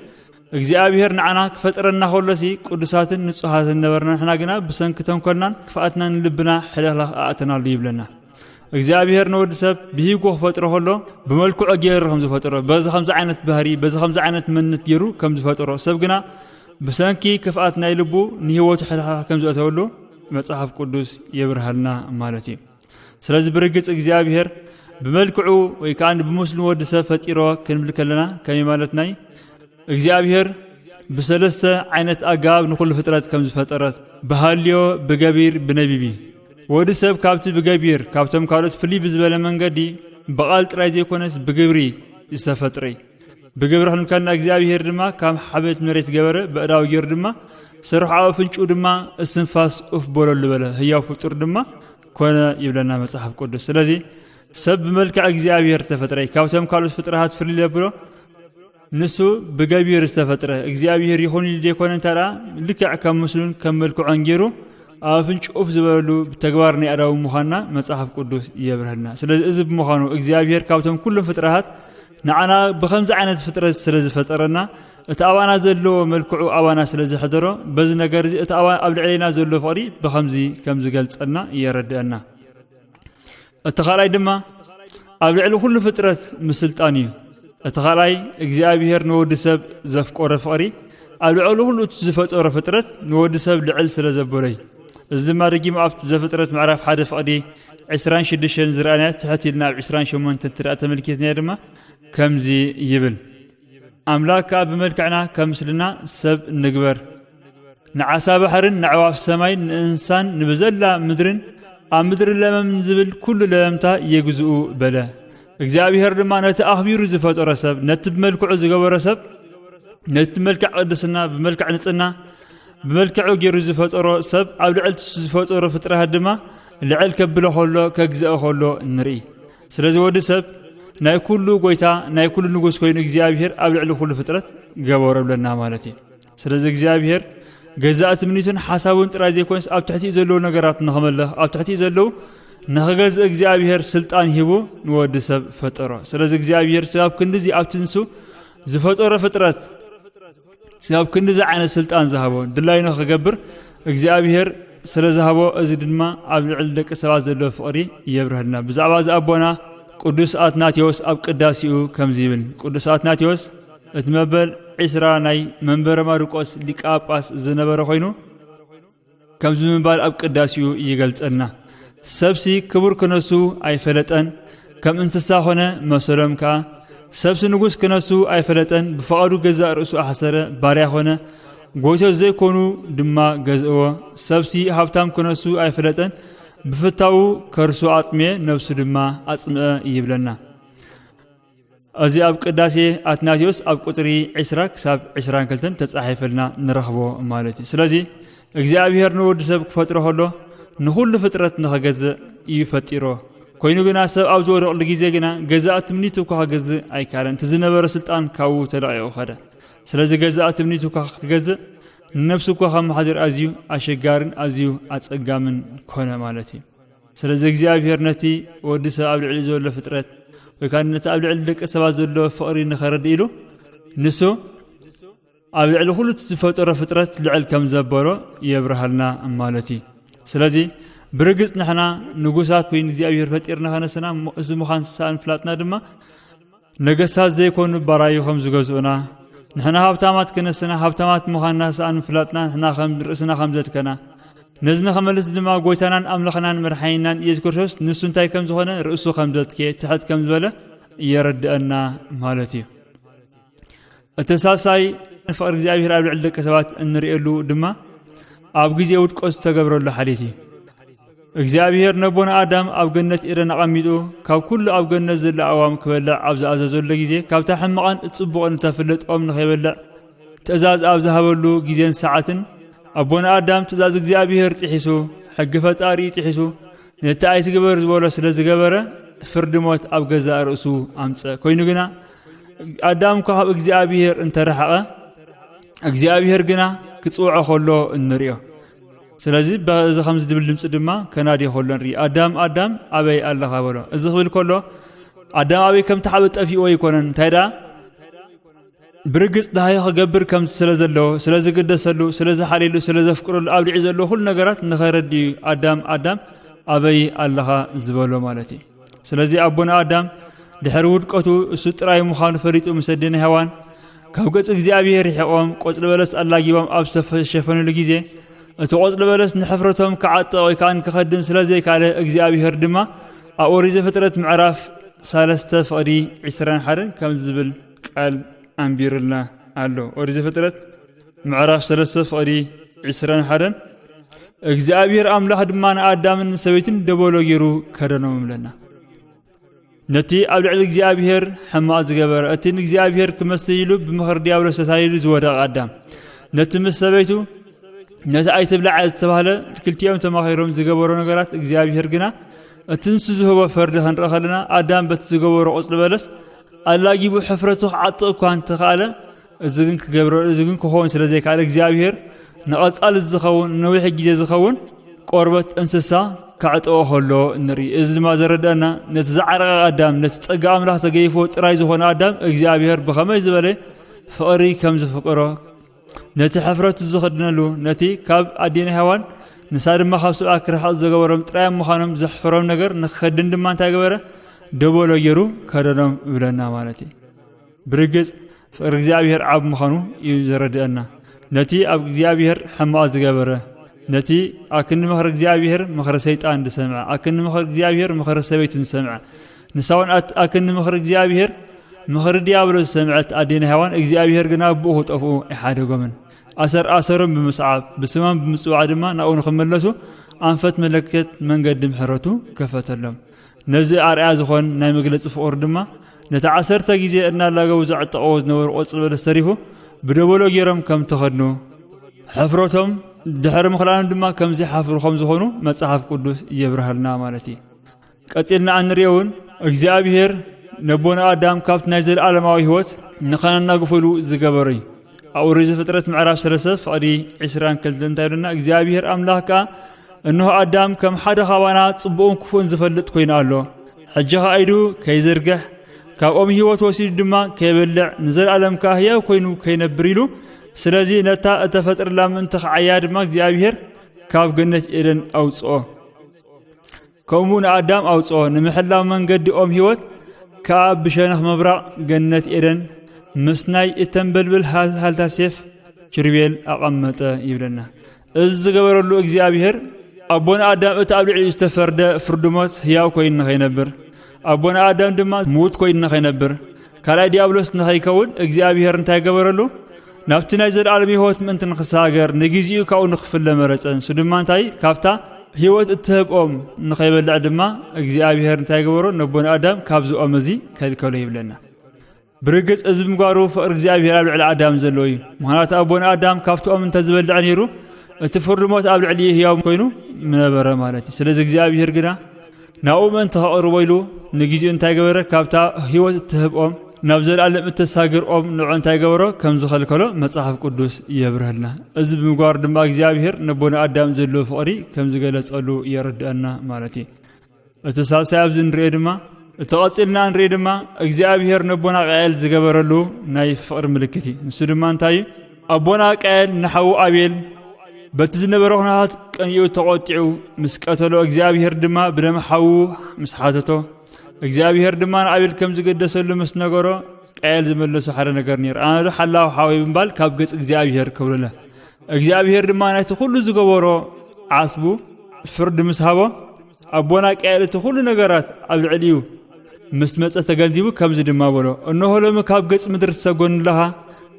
እግዚኣብሔር ንዓና ክፈጥረና ከሎሲ ቅዱሳትን ንጹሃትን ነበርና ንሕና ግና ብሰንኪ ተንኮልናን ክፍኣትናን ንልብና ሕልኽላኽ ኣእተናሉ ይብለና እግዚኣብሔር ንወዲ ሰብ ብሂጎ ክፈጥሮ ከሎ ብመልክዑ ገይሩ ከም ዝፈጥሮ በዚ ከምዚ ዓይነት ባህሪ በዚ ከምዚ ዓይነት መንነት ገይሩ ከም ዝፈጥሮ ሰብ ግና ብሰንኪ ክፍኣት ናይ ልቡ ንህይወቱ ሕልሓ ከም ዝእተወሉ መጽሓፍ ቅዱስ የብርሃልና ማለት እዩ ስለዚ ብርግጽ እግዚኣብሔር ብመልክዑ ወይ ከዓ ብምስሉ ወዲ ሰብ ፈጢሮ ክንብል ከለና ከመይ ማለት ናይ እግዚኣብሔር ብሰለስተ ዓይነት ኣገባብ ንኹሉ ፍጥረት ከም ዝፈጠረት ብሃልዮ ብገቢር ብነቢቢ ወዲ ሰብ ካብቲ ብገቢር ካብቶም ካልኦት ፍልይ ብዝበለ መንገዲ ብቓል ጥራይ ዘይኮነስ ብግብሪ ዝተፈጥረ ብግብሪ ክንከና እግዚኣብሄር ድማ ካብ ሓበት መሬት ገበረ በእዳዊ ጌሩ ድማ ስርሑ ኣብ ኣፍንጭኡ ድማ እስትንፋስ ኡፍ በለሉ በለ ህያው ፍጡር ድማ ኮነ ይብለና መጽሓፍ ቅዱስ ስለዚ ሰብ ብመልክዕ እግዚኣብሄር ተፈጥረ ካብቶም ካልኦት ፍጥረታት ፍልይ ዘብሎ ንሱ ብገቢር ዝተፈጥረ እግዚኣብሄር ይኹን ኢሉ ዘይኮነ እንተ ልክዕ ከም ምስሉን ከም መልክዖን ገይሩ ኣብ ኣፍንጭ ኡፍ ዝበለሉ ተግባር ናይ ኣዳዊ ምዃንና መጽሓፍ ቅዱስ የብርሃልና ስለዚ እዚ ብምዃኑ እግዚኣብሄር ካብቶም ኩሎም ፍጥረታት ንዓና ብኸምዚ ዓይነት ፍጥረት ስለ ዝፈጠረና እቲ ኣባና ዘለዎ መልክዑ ኣባና ስለ ዘሕደሮ በዚ ነገር እዚ እቲ ኣባ ኣብ ልዕሌና ዘሎ ፍቕሪ ብኸምዚ ከም ዝገልጸልና የረድአና እቲ ካልኣይ ድማ ኣብ ልዕሊ ኩሉ ፍጥረት ምስልጣን እዩ እቲ ካልኣይ እግዚኣብሄር ንወዲ ሰብ ዘፍቆረ ፍቕሪ ኣብ ልዕሊ ኩሉ እቲ ዝፈጠሮ ፍጥረት ንወዲ ሰብ ልዕል ስለ ዘበሎ እዩ እዚ ድማ ደጊሙ ኣብቲ ዘፍጥረት ምዕራፍ ሓደ ፍቕዲ ዕስራን ሽዱሽተን ዝረኣናያ ትሕት ኢልና ኣብ ዕስራን ሸሞንተን እንተደኣ ተመልኪትናዮ ድማ ከምዚ ይብል ኣምላክ ከኣ ብመልክዕና ከም ምስልና ሰብ ንግበር ንዓሳ ባሕርን ንዕዋፍ ሰማይን ንእንሳን ንብዘላ ምድርን ኣብ ምድሪ ለመም ዝብል ኩሉ ለመምታ የግዝኡ በለ እግዚኣብሄር ድማ ነቲ ኣኽቢሩ ዝፈጠሮ ሰብ ነቲ ብመልክዑ ዝገበሮ ሰብ ነቲ መልክዕ ቅድስና ብመልክዕ ንፅና ብመልክዑ ገይሩ ዝፈጠሮ ሰብ ኣብ ልዕልቲ ዝፈጠሮ ፍጥረታት ድማ ልዕል ከብሎ ከሎ ከግዝኦ ከሎ ንርኢ ስለዚ ወዲ ሰብ ናይ ኩሉ ጎይታ ናይ ኩሉ ንጉስ ኮይኑ እግዚኣብሄር ኣብ ልዕሊ ኩሉ ፍጥረት ገበሮ ብለና ማለት እዩ ስለዚ እግዚኣብሄር ገዛእ ትምኒቱን ሓሳቡን ጥራይ ዘይኮንስ ኣብ ትሕቲኡ ዘለዉ ነገራት ንኽመልኽ ኣብ ትሕቲኡ ዘለዉ ንኽገዝእ እግዚኣብሄር ስልጣን ሂቡ ንወዲ ሰብ ፈጠሮ ስለዚ እግዚኣብሄር ስብ ኣብ ክንዲዚ ኣብ ትንሱ ዝፈጠሮ ፍጥረት ኣብ ክንዲዚ ዓይነት ስልጣን ዝሃቦ ድላዩ ንኽገብር እግዚኣብሄር ስለ ዝሃቦ እዚ ድማ ኣብ ልዕሊ ደቂ ሰባት ዘለዎ ፍቕሪ የብርሀልና ብዛዕባ እዚ ኣቦና ቅዱስ ኣትናቴዎስ ኣብ ቅዳሴኡ ከምዚ ይብል ቅዱስ ኣትናቴዎስ እቲ መበል ዕስራ ናይ መንበረ ማርቆስ ሊቀ ጳጳስ ዝነበረ ኮይኑ ከምዚ ምባል ኣብ ቅዳሴኡ ይገልጸልና ሰብሲ ክቡር ክነሱ ኣይፈለጠን ከም እንስሳ ኮነ መሰሎም ከኣ ሰብሲ ንጉስ ክነሱ ኣይፈለጠን ብፍቓዱ ገዛእ ርእሱ ኣሕሰረ ባርያ ኮነ ጎይቶ ዘይኮኑ ድማ ገዝእዎ ሰብሲ ሃብታም ክነሱ ኣይፈለጠን ብፍታዉ ከርሱ ኣጥሜ ነብሱ ድማ ኣጽምአ ይብለና እዚ ኣብ ቅዳሴ ኣትናቴዎስ ኣብ ቁፅሪ ዕስራ ክሳብ ዕስራን ክልተን ተፃሒፈልና ንረኽቦ ማለት እዩ ስለዚ እግዚኣብሔር ንወዲ ሰብ ክፈጥሮ ከሎ ንኹሉ ፍጥረት ንኸገዝእ እዩ ፈጢሮ ኮይኑ ግና ሰብ ኣብ ዝወደቕሉ ግዜ ግና ገዛእ ትምኒቱ እኳ ክገዝእ ኣይከኣለን እቲ ዝነበረ ስልጣን ካብኡ ተለቂቑ ኸደ ስለዚ ገዛእ ትምኒቱ እኳ ክገዝእ ንነብሱ እኳ ከመሓድር ኣዝዩ ኣሸጋርን ኣዝዩ ኣፀጋምን ኮነ ማለት እዩ ስለዚ እግዚኣብሄር ነቲ ወዲ ሰብ ኣብ ልዕሊ ዘሎ ፍጥረት ወይ ከዓ ነቲ ኣብ ልዕሊ ደቂ ሰባት ዘሎ ፍቕሪ ንኸረድ ኢሉ ንሱ ኣብ ልዕሊ ኩሉ ዝፈጠሮ ፍጥረት ልዕል ከም ዘበሎ የብርሃልና ማለት እዩ ስለዚ ብርግፅ ንሕና ንጉሳት ኮይኑ እግዚኣብሄር ፈጢርና ከነስና እዚ ምዃን ሳንፍላጥና ድማ ነገስታት ዘይኮኑ ባራዩ ከም ዝገዝኡና ንሕና ሃብታማት ክነስና ሃብታማት ምዃንና ሰኣን ምፍላጥና ንሕና ከም ርእስና ከም ዘድከና ነዚ ንኸመልስ ድማ ጎይታናን ኣምላኽናን መድሓኒናን ኢየሱስ ክርስቶስ ንሱ እንታይ ከም ዝኾነ ርእሱ ከም ዘትኬ ትሕት ከም ዝበለ የረድአና ማለት እዩ እቲ ሳልሳይ ፍቕሪ እግዚኣብሔር ኣብ ልዕሊ ደቂ ሰባት እንርእየሉ ድማ ኣብ ግዜ ውድቆ ዝተገብረሉ ሓልየት እዩ እግዚኣብሔር ነቦና ኣዳም ኣብ ገነት ኤደን ኣቐሚጡ ካብ ኩሉ ኣብ ገነት ዘሎ ኣዋም ክበልዕ ኣብ ዝኣዘዘሉ ግዜ ካብታ ሕማቕን እጽቡቕን እተፍልጥ ኦም ንኸይበልዕ ትእዛዝ ኣብ ዝሃበሉ ግዜን ሰዓትን ኣቦና ኣዳም ትእዛዝ እግዚኣብሔር ጥሒሱ ሕጊ ፈጣሪ ጥሒሱ ነቲ ኣይትግበር ዝበሎ ስለ ዝገበረ ፍርዲ ሞት ኣብ ገዛእ ርእሱ ኣምፀ ኮይኑ ግና ኣዳም እኳ ካብ እግዚኣብሔር እንተ ረሓቐ እግዚኣብሔር ግና ክጽውዖ ከሎ እንርእዮ ስለዚ በዚ ከምዚ ድብል ድምፂ ድማ ከናዲ ከሎ ንርኢ ኣዳም ኣዳም ኣበይ ኣለኻ በሎ እዚ ክብል ከሎ ኣዳም ኣበይ ከም ተሓበ ጠፊእዎ ኣይኮነን እንታይ ደኣ ብርግፅ ድሃዮ ክገብር ከም ስለ ዘለዎ ስለ ዝግደሰሉ ስለ ዝሓልየሉ ስለ ዘፍቅረሉ ኣብ ልዒ ዘለዎ ኩሉ ነገራት ንኸረዲ ኣዳም ኣዳም ኣበይ ኣለኻ ዝበሎ ማለት እዩ ስለዚ ኣቦና ኣዳም ድሕሪ ውድቀቱ እሱ ጥራይ ምዃኑ ፈሊጡ ምስ ኣዴና ሄዋን ካብ ገጽ እግዚኣብሔር ርሒቖም ቆጽሊ በለስ ኣላጊቦም ኣብ ዝተሸፈንሉ ግዜ እቲ ቆጽሊ በለስ ንሕፍረቶም ክዓጥቕ ወይ ከዓ ክኸድን ስለ ዘይካለ እግዚኣብሔር ድማ ኣብ ኦሪት ዘፍጥረት ምዕራፍ ሰለስተ ፍቕዲ ዕስራን ሓደን ከም ዝብል ቃል ኣንቢሩልና ኣሎ ኦሪት ዘፍጥረት ምዕራፍ ሰለስተ ፍቕዲ ዕስራን ሓደን እግዚኣብሔር ኣምላኽ ድማ ንኣዳምን ንሰበይትን ደበሎ ገይሩ ከደኖም እብለና ነቲ ኣብ ልዕሊ እግዚኣብሔር ሕማቕ ዝገበረ እቲ ንእግዚኣብሔር ክመስል ኢሉ ብምኽሪ ዲያብሎስ ተታሊሉ ዝወደቐ ኣዳም ነቲ ምስ ሰበይቱ ነቲ ኣይትብላዕ ዝተባህለ ክልቲኦም ተማኺሮም ዝገበሮ ነገራት እግዚኣብሔር ግና እቲ ንሱ ዝህቦ ፈርዲ ክንርኢ ከለና ኣዳም በቲ ዝገበሮ ቁፅሊ በለስ ኣላጊቡ ሕፍረቱ ክዓጥቕ እኳ እንተኸኣለ እዚ ግን ክገብረ እዚ ግን ክኸውን ስለ ዘይከኣለ እግዚኣብሄር ንቐጻሊ ዝኸውን ንነዊሕ ግዜ ዝኸውን ቆርበት እንስሳ ከዕጠኦ ከሎ ንርኢ እዚ ድማ ዘረድአና ነቲ ዝዓረቐ ኣዳም ነቲ ጸጋ ኣምላኽ ተገይፎ ጥራይ ዝኾነ ኣዳም እግዚኣብሄር ብኸመይ ዝበለ ፍቕሪ ከም ዝፍቅሮ ነቲ ሕፍረቱ ዝኽድነሉ ነቲ ካብ ኣዴና ሄዋን ንሳ ድማ ካብ ሰብኣ ክርሕቕ ዝገበሮም ጥራዮም ምዃኖም ዘሕፍሮም ነገር ንክኸድን ድማ እንታይ ገበረ ደበሎ ገይሩ ከደኖም ይብለና ማለት እዩ ብርግጽ ፍቕሪ እግዚኣብሔር ዓብ ምዃኑ እዩ ዘረድእና። ነቲ ኣብ እግዚኣብሔር ሕማቕ ዝገበረ፣ ነቲ ኣክኒ ምኽሪ እግዚኣብሔር ምኽሪ ሰይጣን ዝሰምዐ፣ ኣክኒ ምኽሪ እግዚኣብሔር ምኽሪ ሰበይቱ ዝሰምዐ፣ ንሳውን ኣት ኣክኒ ምኽሪ እግዚኣብሔር ምኽሪ ዲያብሎ ዝሰምዐት ኣዴና ሔዋን እግዚኣብሔር ግና ብኡ ክጠፍኡ ኣይሓደጎምን። ኣሰር ኣሰሮም ብምስዓብ ብስማም ብምጽዋዕ ድማ ናብኡ ንክመለሱ ኣንፈት መለከት መንገዲ ምሕረቱ ከፈተሎም። ነዚ ኣርኣያ ዝኾን ናይ መግለጺ ፍቕሩ ድማ ነቲ ዓሰርተ ግዜ እናላገቡ ዘዕጠቕዎ ዝነበሩ ቆጽሊ በለስ ሰሪሑ ብደበሎ ገይሮም ከም ተኸድኑ ሕፍረቶም ድሕሪ ምኽላኑ ድማ ከም ዘይሓፍሩ ከም ዝኾኑ መጽሓፍ ቅዱስ የብርሃልና ማለት እዩ ቀጺልና እንሪኦ እውን እግዚኣብሄር ነቦና ኣዳም ካብቲ ናይ ዘለኣለማዊ ህይወት ንኸነናግፈሉ ዝገበረ እዩ ኣብ ኦሪት ዘፍጥረት ምዕራፍ ሰለስተ ፍቕዲ ዕስራን ክልተ እንታይ ይብለና እግዚኣብሄር ኣምላኽ ከኣ እንሆ ኣዳም ከም ሓደ ኻባና ጽቡቕን ክፉእን ዝፈልጥ ኮይኑ ኣሎ ሕጂ ኸኣ ኢዱ ከይዝርግሕ ካብኦም ህይወት ወሲዱ ድማ ከይበልዕ ንዘለኣለም ከኣ ህያው ኮይኑ ከይነብር ኢሉ ስለዚ ነታ እተፈጥረላ ምእንቲ ኽዓያ ድማ እግዚኣብሄር ካብ ገነት ኤደን ኣውጽኦ ከምኡ ንኣዳም ኣውፅኦ ንምሕላው መንገዲ ኦም ህይወት ከኣ ብሸነኽ ምብራቕ ገነት ኤደን ምስናይ እተንበልብል ሃልሃልታ ሴፍ ኪሩቤል ኣቐመጠ ይብለና እዚ ዝገበረሉ እግዚኣብሄር ኣቦን ኣዳም እቲ ኣብ ልዕሊኡ ዝተፈርደ ፍርዲ ሞት ህያው ኮይኑ ንኸይነብር ኣቦን ኣዳም ድማ ምዉት ኮይኑ ንኸይነብር ካልኣይ ዲያብሎስ ንኸይከውን እግዚኣብሔር እንታይ ገበረሉ ናብቲ ናይ ዘለኣለም ህይወት ምእንቲ ንክሰጋገር ንግዜኡ ካብኡ ንክፍለ መረፀ ንሱ ድማ እንታይ ካብታ ህይወት እትህብኦም ንኸይበልዕ ድማ እግዚኣብሄር እንታይ ገበሮ ነቦን ኣዳም ካብዚ ኦም እዚ ከልከሎ ይብለና ብርግፅ እዚ ምግባሩ ፍቕሪ እግዚኣብሄር ኣብ ልዕሊ ኣዳም ዘለዎ እዩ ምክንያቱ ኣቦን ኣዳም ካብቲ ኦም እንተዝበልዕ ነይሩ እቲ ፍርዲ ሞት ኣብ ልዕሊ ህያው ኮይኑ ምነበረ ማለት እዩ ስለዚ እግዚኣብሄር ግና ናብኡ ምእንቲ ከቕርቦ ኢሉ ንግዜኡ እንታይ ገበረ? ካብታ ህይወት እትህብ ኦም ናብ ዘለኣለም እተሳግር ኦም ንዑ እንታይ ገበሮ? ከም ዝኸልከሎ መጽሓፍ ቅዱስ የብርሀልና። እዚ ብምግባሩ ድማ እግዚኣብሔር ነቦና ኣዳም ዘለዎ ፍቕሪ ከም ዝገለጸሉ የረድኣና ማለት እዩ። እቲ ሳልሳይ ኣብዚ ንሪኦ ድማ እቲ ቐጺልና ንሪኦ ድማ እግዚኣብሔር ነቦና ቃኤል ዝገበረሉ ናይ ፍቕሪ ምልክት እዩ። ንሱ ድማ እንታይ እዩ? ኣቦና ቃየል ንሓዉ ኣቤል በቲ ዝነበረ ኩነታት ቀኒኡ ተቖጢዑ ምስ ቀተሎ እግዚኣብሄር ድማ ብደም ሓዉ ምስ ሓተቶ እግዚኣብሄር ድማ ንኣቤል ከም ዝገደሰሉ ምስ ነገሮ ቃየል ዝመለሶ ሓደ ነገር ነይሩ ኣነ ዶ ሓላዊ ሓወይ ብምባል ካብ ገጽ እግዚኣብሄር ክብልለ እግዚኣብሄር ድማ ናይቲ ኩሉ ዝገበሮ ዓስቡ ፍርዲ ምስ ሃቦ ኣቦና ቀያል እቲ ኩሉ ነገራት ኣብ ልዕሊኡ ምስ መጸ ተገንዚቡ ከምዚ ድማ በሎ እነሆ ሎሚ ካብ ገጽ ምድሪ ትሰጎን ኣለኻ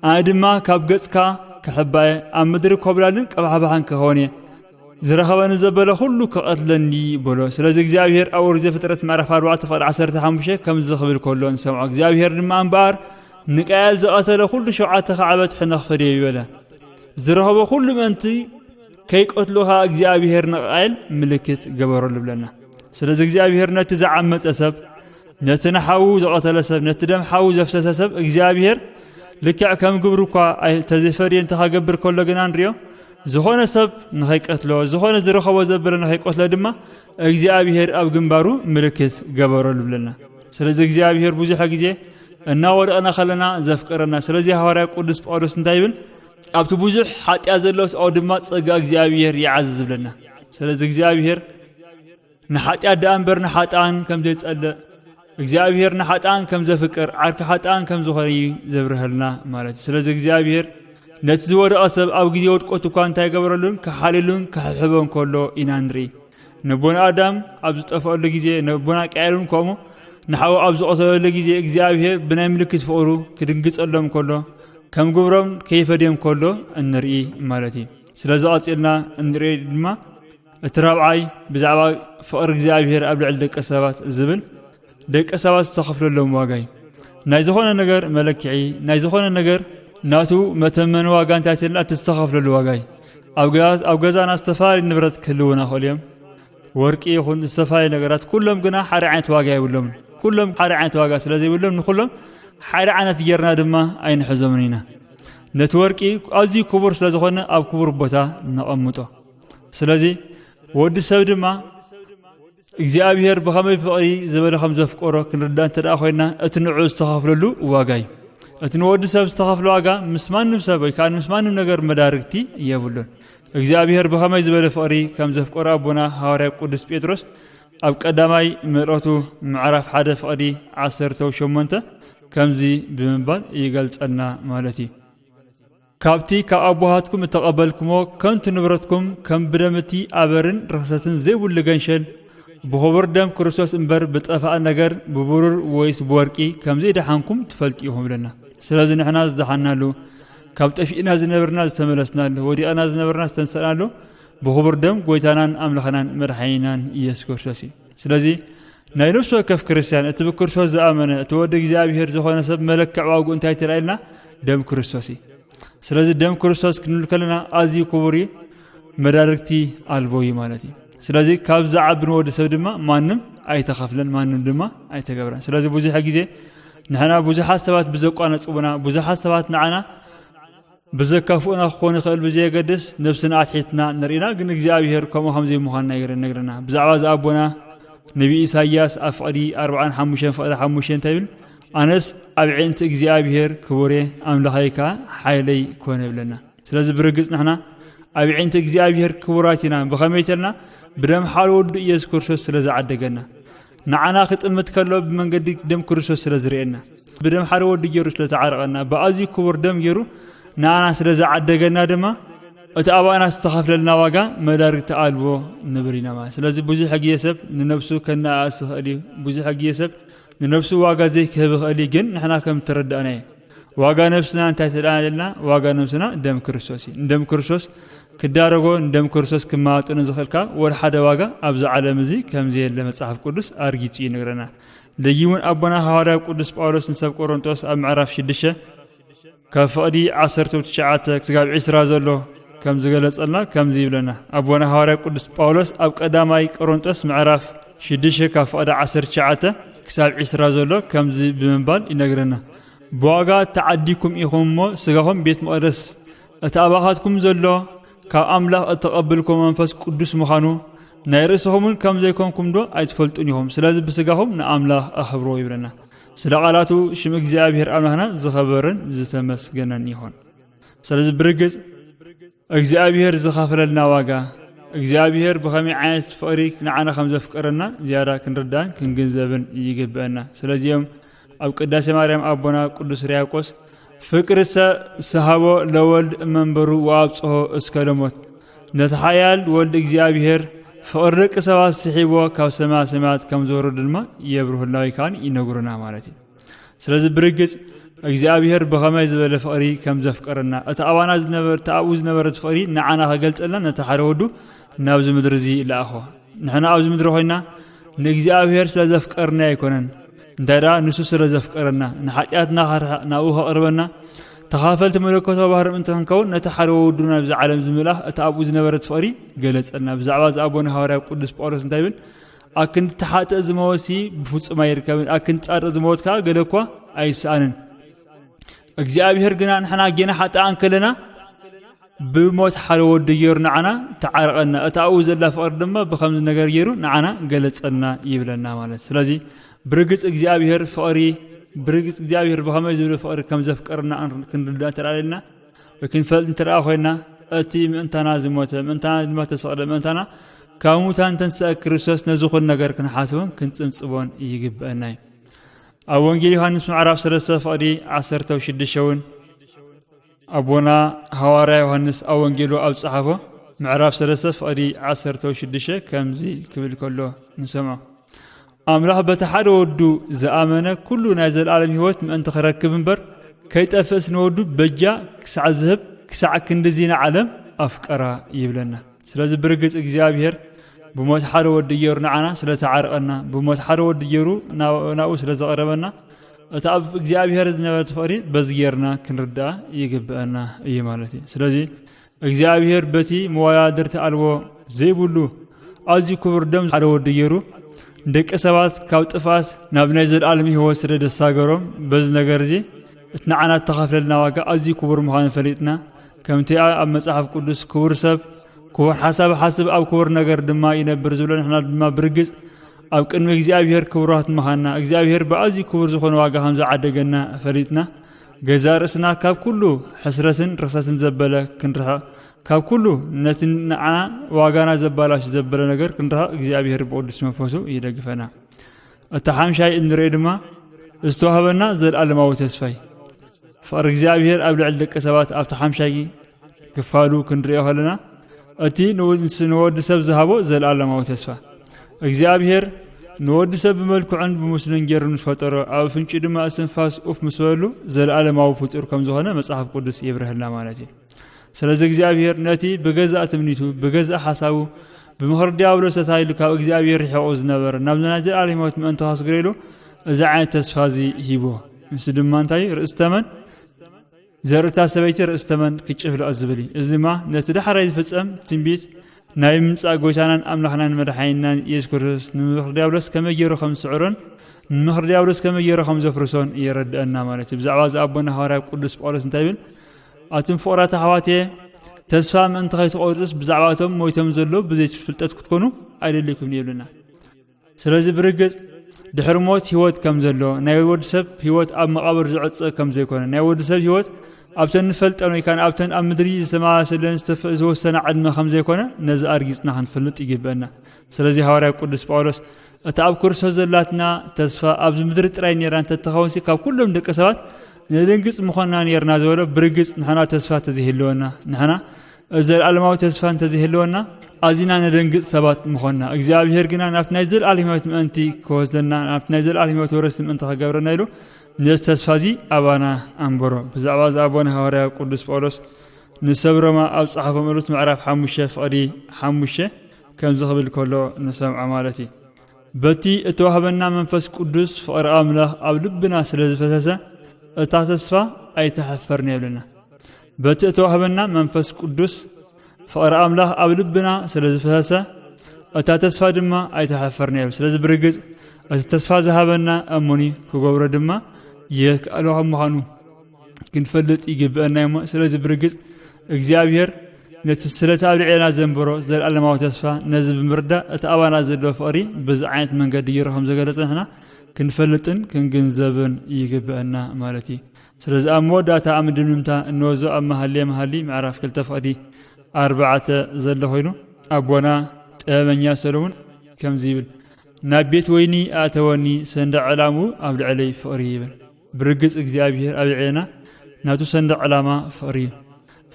ኣነ ድማ ካብ ገጽካ ክሕባየ ኣብ ምድሪ ኮብላልን ቀባሕባሕን ክኸውን እየ ዝረኸበኒ ዘበለ ኩሉ ክቐትለኒ በሎ ስለዚ እግዚኣብሄር ኣብ ኦሪት ዘፍጥረት ምዕራፍ 4 ፍቕዲ 15 ከምዚ ክብል ከሎ ንሰምዖ እግዚኣብሄር ድማ እምበኣር ንቃየል ዝቐተለ ኩሉ ሸውዓተ ካዕበት ሕነ ክፈድዮ ይበለ ዝረኸቦ ኩሉ ምእንቲ ከይቀትሎ ኸኣ እግዚኣብሄር ንቓየል ምልክት ገበረሉ ብለና ስለዚ እግዚኣብሄር ነቲ ዝዓመፀ ሰብ ነቲ ንሓዉ ዝቐተለ ሰብ ነቲ ደም ሓዉ ዘፍሰሰ ሰብ እግዚኣብሄር ልክዕ ከም ግብሩ እኳ ተዘይፈርየ እንተ ከገብር ከሎ ግና ንሪኦ ዝኾነ ሰብ ንኸይቀትሎ ዝኾነ ዝረኸቦ ዘበለ ንኸይቀትሎ ድማ እግዚኣብሄር ኣብ ግንባሩ ምልክት ገበረሉ ብለና ስለዚ እግዚኣብሄር ብዙሕ ግዜ እናወደቕና ከለና ዘፍቅረና ስለዚ ሃዋርያ ቅዱስ ጳውሎስ እንታይ ይብል ኣብቲ ብዙሕ ሓጢኣት ዘለዎ ሰብኣዊ ድማ ጸጋ እግዚኣብሔር ይዓዝዝ ዝብለና ስለዚ እግዚኣብሔር ንሓጢኣት ደኣ እምበር ንሓጥኣን ከም ዘይጸልእ እግዚኣብሔር ንሓጥኣን ከም ዘፍቅር ዓርኪ ሓጥኣን ከም ዝኾነ እዩ ዘብርሀልና ማለት እዩ ስለዚ እግዚኣብሔር ነቲ ዝወደቐ ሰብ ኣብ ግዜ ውድቀቱ እኳ እንታይ ገበረሉን ክሓልሉን ክሕብሕቦን ከሎ ኢና ንርኢ ነቦና ኣዳም ኣብ ዝጠፍኣሉ ግዜ ነቦና ቀያልን ከምኡ ንሓው ኣብ ዝቐሰበሉ ግዜ እግዚኣብሄር ብናይ ምልክት ፍቕሩ ክድንግጸሎም ከሎ ከም ግብሮም ከይፈድዮም ከሎ እንርኢ ማለት እዩ ስለዚ ቐጺልና እንርኢ ድማ እቲ ራብዓይ ብዛዕባ ፍቕሪ እግዚኣብሄር ኣብ ልዕሊ ደቂ ሰባት ዝብል ደቂ ሰባት ዝተኸፍለሎም ዋጋ እዩ ናይ ዝኾነ ነገር መለክዒ ናይ ዝኾነ ነገር ናቱ መተመን ዋጋ እንታይ ትልና እቲ ዝተኸፍለሉ ዋጋ እዩ ኣብ ገዛና ዝተፈላለዩ ንብረት ክህልውና ክእሉ እዮም ወርቂ ይኹን ዝተፈላለዩ ነገራት ኩሎም ግና ሓደ ዓይነት ዋጋ የብሎምን ኩሎም ሓደ ዓይነት ዋጋ ስለ ዘይብሎም ንኩሎም ሓደ ዓይነት ጌርና ድማ ኣይንሕዞምን ኢና ነቲ ወርቂ ኣዝዩ ክቡር ስለ ዝኾነ ኣብ ክቡር ቦታ ነቐምጦ ስለዚ ወዲ ሰብ ድማ እግዚኣብሄር ብኸመይ ፍቕሪ ዝበለ ከም ዘፍቀሮ ክንርዳእ እንተ ደኣ ኮይና እቲ ንዕኡ ዝተኸፍለሉ ዋጋ እዩ እቲ ንወዲ ሰብ ዝተኸፍለ ዋጋ ምስ ማንም ሰብ ወይ ከዓ ምስ ማንም ነገር መዳርግቲ የብሉን እግዚኣብሄር ብኸመይ ዝበለ ፍቕሪ ከም ዘፍቀሮ ኣቦና ሃዋርያ ቅዱስ ጴጥሮስ ኣብ ቀዳማይ ምዕረቱ ምዕራፍ ሓደ ፍቕዲ ዓሰርተው ሸሞንተ ከምዚ ብምባል ይገልጸልና ማለት እዩ ካብቲ ካብ ኣቦሃትኩም እተቐበልኩሞ ከንቱ ንብረትኩም ከም ብደም እቲ ኣበርን ርኽሰትን ዘይብሉ ገንሸል ብኹቡር ደም ክርስቶስ እምበር ብጠፋእ ነገር ብብሩር ወይስ ብወርቂ ከም ዘይደሓንኩም ትፈልጡ ኢኹም እብለና። ስለዚ ንሕና ዝደሓናሉ ካብ ጠፊእና ዝነበርና ዝተመለስናሉ ወዲቕና ዝነበርና ዝተንሰእናሉ ብኹቡር ደም ጎይታናን ኣምላኽናን መድሓኒናን ኢየሱስ ክርስቶስ እዩ። ስለዚ ናይ ነፍሲ ወከፍ ክርስትያን እቲ ብክርስቶስ ዝኣመነ እቲ ወዲ እግዚኣብሄር ዝኾነ ሰብ መለክዕ ዋግኡ እንታይ ትርኣየልና ደም ክርስቶስ እዩ ስለዚ ደም ክርስቶስ ክንብል ከለና ኣዝዩ ክቡር እዩ መዳርግቲ ኣልቦ እዩ ማለት እዩ ስለዚ ካብ ዝዓቢ ንወዲ ሰብ ድማ ማንም ኣይተኸፍለን ማንም ድማ ኣይተገብረን ስለዚ ብዙሕ ግዜ ንሕና ብዙሓት ሰባት ብዘቋነፅቡና ብዙሓት ሰባት ንዓና ብዘካፍኡና ክኾን ይኽእል ብዘየገድስ ነብስና ኣትሒትና ንርኢና ግን እግዚኣብሄር ከምኡ ከምዘይምዃንና ይነግረና ብዛዕባ እዚ ኣቦና ነቢ ኢሳያስ ኣብ ፍቕዲ ኣርብዓን ሓሙሽተን ፍቕዲ ሓሙሽተ እንታይ ይብል ኣነስ ኣብ ዒንቲ እግዚኣብሄር ክቡሬ ኣምላኸይ ከኣ ሓይለይ ኮነ ይብለና ስለዚ ብርግጽ ንሕና ኣብ ዒንቲ እግዚኣብሄር ክቡራት ኢና ብኸመይ ተልና ብደም ሓደ ወዱ ኢየሱስ ክርስቶስ ስለ ዝዓደገና ንዓና ክጥምት ከሎ ብመንገዲ ደም ክርስቶስ ስለ ዝርእየና ብደም ሓደ ወዲ ገይሩ ስለ ዝዓረቐና ብኣዝዩ ክቡር ደም ገይሩ ንኣና ስለ ዝዓደገና ድማ እቲ ኣባና ዝተኸፍለልና ዋጋ መዳርግቲ ኣልቦ ንብል ኢና ማለት ስለዚ ብዙሕ ግዜ ሰብ ንነብሱ ከነኣእስ ይኽእል እዩ ብዙሕ ግዜ ሰብ ንነብሱ ዋጋ ዘይክህብ ይኽእል እዩ ግን ንሕና ከም እተረዳእናዮ ዋጋ ነብስና እንታይ ትደኣ ዘለና ዋጋ ነብስና ደም ክርስቶስ እዩ ንደም ክርስቶስ ክዳረጎ ንደም ክርስቶስ ክመጣጠኑ ዝኽእል ካብ ወደ ሓደ ዋጋ ኣብዚ ዓለም እዚ ከም ዘየለ መጽሓፍ ቅዱስ ኣርጊጹ ይነግረና ደጊ እውን ኣቦና ሃዋርያ ቅዱስ ጳውሎስ ንሰብ ቆሮንጦስ ኣብ ምዕራፍ 6 ካብ ፍቕዲ 19 ክስጋብ 20 ዘሎ ከም ዝገለጸልና ከምዚ ይብለና ኣቦና ሃዋርያ ቅዱስ ጳውሎስ ኣብ ቀዳማይ ቆሮንጦስ ምዕራፍ ሽዱሽተ ካብ ፍቕዲ ዓሰርተ ትሽዓተ ክሳብ ዒስራ ዘሎ ከምዚ ብምባል ይነግረና ብዋጋ ተዓዲኩም ኢኹም እሞ ስጋኹም ቤት መቕደስ እቲ ኣባኻትኩም ዘሎ ካብ ኣምላኽ እተቐብልኩም መንፈስ ቅዱስ ምዃኑ ናይ ርእስኹምን ከም ዘይኮንኩም ዶ ኣይትፈልጡን ኢኹም ስለዚ ብስጋኹም ንኣምላኽ ኣኽብሮ ይብለና ስለ ቃላቱ ሽም እግዚኣብሔር ኣምላኽና ዝኸበረን ዝተመስገነን ይኹን ስለዚ ብርግጽ እግዚኣብሄር ዝኸፈለልና ዋጋ እግዚኣብሄር ብኸመይ ዓይነት ፍቕሪ ንዓና ከም ዘፍቀረና ዝያዳ ክንርዳን ክንግንዘብን ይግብአና። ስለዚ እዮም ኣብ ቅዳሴ ማርያም ኣቦና ቅዱስ ርያቆስ ፍቅርሰ ሰሃቦ ለወልድ እመንበሩ ወኣብጽሖ እስከ ለሞት ነቲ ሓያል ወልድ እግዚኣብሄር ፍቕሪ ደቂ ሰባት ስሒቦ ካብ ሰማያ ሰማያት ከም ዝወረዱ ድማ የብርህልና ወይ ከዓ ይነግሩና ማለት እዩ። ስለዚ ብርግጽ እግዚኣብሔር ብኸመይ ዝበለ ፍቕሪ ከም ዘፍቀረና እቲ ኣባና ዝነበረ እቲ ኣብኡ ዝነበረ ፍቕሪ ንዓና ከገልጸልና ነቲ ሓደ ወዱ ናብዚ ምድሪ እዚ ለኣኾ ንሕና ኣብዚ ምድሪ ኮይና ንእግዚኣብሔር ስለ ዘፍቀርና ኣይኮነን እንታይ ደኣ ንሱ ስለ ዘፍቀረና ንሓጢኣትና ከርሕቕ ናብኡ ከቕርበና ተኻፈልቲ መለኮታዊ ባህሪ ምእንቲ ክንከውን ነቲ ሓደ ወዱ ናብዚ ዓለም ዝምላኽ እቲ ኣብኡ ዝነበረት ፍቕሪ ገለጸልና ብዛዕባ ዝኣቦነ ሃዋርያ ቅዱስ ጳውሎስ እንታይ ይብል ኣክንዲ ተሓጥእ ዝመወሲ ብፍጹም ኣይርከብን ኣክንዲ ጻድቅ ዝመወት ከዓ ገለ እኳ ኣይስኣንን እግዚኣብሔር ግና ንሕና ጌና ሓጣኣን ከለና ብሞት ሓደ ወዲ ገይሩ ንዓና ተዓረቐና እቲ ኣብኡ ዘላ ፍቕሪ ድማ ብከምዚ ነገር ገይሩ ንዓና ገለጸና ይብለና ማለት ስለዚ ብርግፅ እግዚኣብሔር ፍቕሪ ብርግፅ እግዚኣብሔር ብኸመይ ዝብለ ፍቕሪ ከም ዘፍቀርና ክንርዳእ ተላለና ክንፈልጥ እንተ ኮይና እቲ ምእንታና ዝሞተ ምእንታና ድማ ተሰቕለ ምእንታና ካብ ሙታን ተንስአ ክርስቶስ ነዚ ኹን ነገር ክንሓስቦን ክንጽንጽቦን ይግብአና እዩ ኣብ ወንጌል ዮሃንስ ምዕራፍ 3 ፍቕዲ 16 እውን ኣቦና ሃዋርያ ዮሃንስ ኣብ ወንጌሉ ኣብ ዝጸሓፎ ምዕራፍ 3 ፍቕዲ 16 ከምዚ ክብል ከሎ ንሰምዖ ኣምላኽ በቲ ሓደ ወዱ ዝኣመነ ኩሉ ናይ ዘለኣለም ህይወት ምእንቲ ክረክብ እምበር ከይጠፍእስ ንወዱ በጃ ክሳዕ ዝህብ ክሳዕ ክንድዚ ንዓለም ኣፍቀራ ይብለና። ስለዚ ብርግጽ እግዚኣብሔር ብሞት ሓደ ወዲ ገይሩ ንዓና ስለ ተዓርቐና፣ ብሞት ሓደ ወዲ ገይሩ ናብኡ ስለ ዘቐረበና እቲ ኣብ እግዚኣብሔር ዝነበረ ፍቕሪ በዚ ጌርና ክንርዳእ ይግብአና እዩ ማለት እዩ። ስለዚ እግዚኣብሔር በቲ መወዳድርቲ ኣልቦ ዘይብሉ ኣዝዩ ክቡር ደም ሓደ ወዲ ገይሩ ንደቂ ሰባት ካብ ጥፍኣት ናብ ናይ ዘለኣለም ህይወት ስለ ደሳገሮም በዚ ነገር እዚ እቲ ንዓና እተኸፍለልና ዋጋ ኣዝዩ ክቡር ምዃኑ ፈሊጥና ከምቲ ኣብ መጽሓፍ ቅዱስ ክቡር ሰብ ክቡር ሓሳብ ሓስብ ኣብ ክቡር ነገር ድማ ይነብር ዝብሎ ንሕና ድማ ብርግጽ ኣብ ቅድሚ እግዚኣብሔር ክቡራት ምዃንና እግዚኣብሔር ብኣዝዩ ክቡር ዝኾነ ዋጋ ከም ዝዓደገና ፈሊጥና ገዛእ ርእስና ካብ ኩሉ ሕስረትን ርኽሰትን ዘበለ ክንርሕቕ ካብ ኩሉ ነቲ ንዓና ዋጋና ዘባላሽ ዘበለ ነገር ክንርሕቕ እግዚኣብሔር ብቕዱስ መንፈሱ ይደግፈና። እቲ ሓምሻይ እንርእዮ ድማ ዝተዋህበና ዘለኣለማዊ ተስፋይ ፍቕሪ እግዚኣብሔር ኣብ ልዕሊ ደቂ ሰባት ኣብቲ ሓምሻይ ክፋሉ ክንሪኦ ከለና እቲ ንወዲ ሰብ ዝሃቦ ዘለኣለማዊ ተስፋ እግዚኣብሄር ንወዲ ሰብ ብመልክዑን ብምስሉን ገይሩ ምስ ፈጠሮ ኣብ ፍንጩ ድማ እስትንፋስ ኡፍ ምስ በሉ ዘለኣለማዊ ፍጡር ከም ዝኾነ መጽሓፍ ቅዱስ የብርሀልና ማለት እዩ ስለዚ እግዚኣብሄር ነቲ ብገዛእ ትምኒቱ ብገዛእ ሓሳቡ ብምኽሪ ዲያብሎስ ተታይሉ ካብ እግዚኣብሄር ርሒቑ ዝነበረ ናብ ናይ ዘለኣለም ህይወት ምእንቲ ከስግረሉ እዚ ዓይነት ተስፋ እዚ ሂቦ ንሱ ድማ እንታይ ርእሲ ተመን ዘርኢ እታ ሰበይቲ ርእሲ ተመን ክጭፍልቕ እዩ ዝብል እዩ። እዚ ድማ ነቲ ዳሕራይ ዝፍጸም ትንቢት ናይ ምምጻእ ጎይታናን ኣምላኽናን መድሓኒናን የሱስ ክርስቶስ ንምኽሪ ዲያብሎስ ከመይ ገይሩ ከም ዝስዕሮን ንምኽሪ ዲያብሎስ ከመይ ገይሩ ከም ዘፍርሶን የረድኣና ማለት እዩ። ብዛዕባ እዚ ኣቦና ሃዋርያ ቅዱስ ጳውሎስ እንታይ ይብል? ኣቱም ፍቕራት ኣሕዋትየ ተስፋ ምእንቲ ከይትቆርጽስ ብዛዕባ እቶም ሞይቶም ዘለዉ ብዘይ ፍልጠት ክትኮኑ ኣይደልኩምን ይብልና። ስለዚ ብርግጽ ድሕሪ ሞት ህይወት ከም ዘሎ ናይ ወዲ ሰብ ህይወት ኣብ መቓብር ዝዕጸ ከም ዘይኮነ ናይ ወዲ ሰብ ህይወት ኣብተን ንፈልጠን ወይ ከዓ ኣብተን ኣብ ምድሪ ዝተመሳሰለን ዝተወሰነ ዕድመ ከም ዘይኮነ ነዚ ኣርጊጽና ክንፈልጥ ይግበአና ስለዚ ሃዋርያ ቅዱስ ጳውሎስ እታ ኣብ ክርስቶስ ዘላትና ተስፋ ኣብዚ ምድሪ ጥራይ ነራ እንተትኸውንሲ ካብ ኩሎም ደቂ ሰባት ንድንግጽ ምኾንና ነርና ዝበሎ ብርግጽ ንሕና ተስፋ ተዘይህልወና ንሕና ዘለኣለማዊ ተስፋ እንተዘይህልወና ኣዚና ነደንግጽ ሰባት ምኾንና እግዚኣብሄር ግና ናብቲ ናይ ዘለኣለም ህይወት ምእንቲ ክወስደና ናብቲ ናይ ዘለኣለም ህይወት ወረስቲ ምእንቲ ክገብረና ኢሉ ነዚ ተስፋ እዚ ኣባና ኣንበሮ ብዛዕባ እዚ ኣቦና ሃዋርያ ቅዱስ ጳውሎስ ንሰብ ሮማ ኣብ ጸሓፎ መልእክት ምዕራፍ ሓሙሽተ ፍቕዲ ሓሙሽተ ከምዚ ክብል ከሎ ንሰምዖ ማለት እዩ በቲ እተዋህበና መንፈስ ቅዱስ ፍቕሪ ኣምላኽ ኣብ ልብና ስለ ዝፈሰሰ እታ ተስፋ ኣይተሐፈርና የብለና በቲ እተዋህበና መንፈስ ቅዱስ ፍቕሪ ኣምላኽ ኣብ ልብና ስለ ዝፈሰሰ እታ ተስፋ ድማ ኣይተሓፈርናዮ ስለዚ ብርግፅ እቲ ተስፋ ዝሃበና እሙኒ ክገብሮ ድማ የክኣሎ ካብ ምዃኑ ክንፈልጥ ይግብአና እሞ ስለዚ ብርግፅ እግዚኣብሔር ነቲ ስለቲ ኣብ ልዕለና ዘንበሮ ዘለኣለማዊ ተስፋ ነዚ ብምርዳእ እቲ ኣባና ዘለዎ ፍቕሪ ብዚ ዓይነት መንገዲ ይሮ ከም ዘገለጸ ንሕና ክንፈልጥን ክንግንዘብን ይግብአና ማለት እዩ ስለዚ ኣብ መወዳእታ ኣብ ምድምድምታ እንወዞ ኣብ መሃልየ መሃሊ ምዕራፍ ክልተ ፍቕዲ ኣርባዕተ ዘሎ ኮይኑ ኣቦና ጥበበኛ ሰለሙን ከምዚ ይብል ናብ ቤት ወይኒ ኣእተወኒ ሰንደቅ ዕላምኡ ኣብ ልዕለይ ፍቕሪ ይብል ብርግጽ እግዚኣብሄር ኣብ ልዕሌና ናቱ ሰንደቅ ዕላማ ፍቕሪ እዩ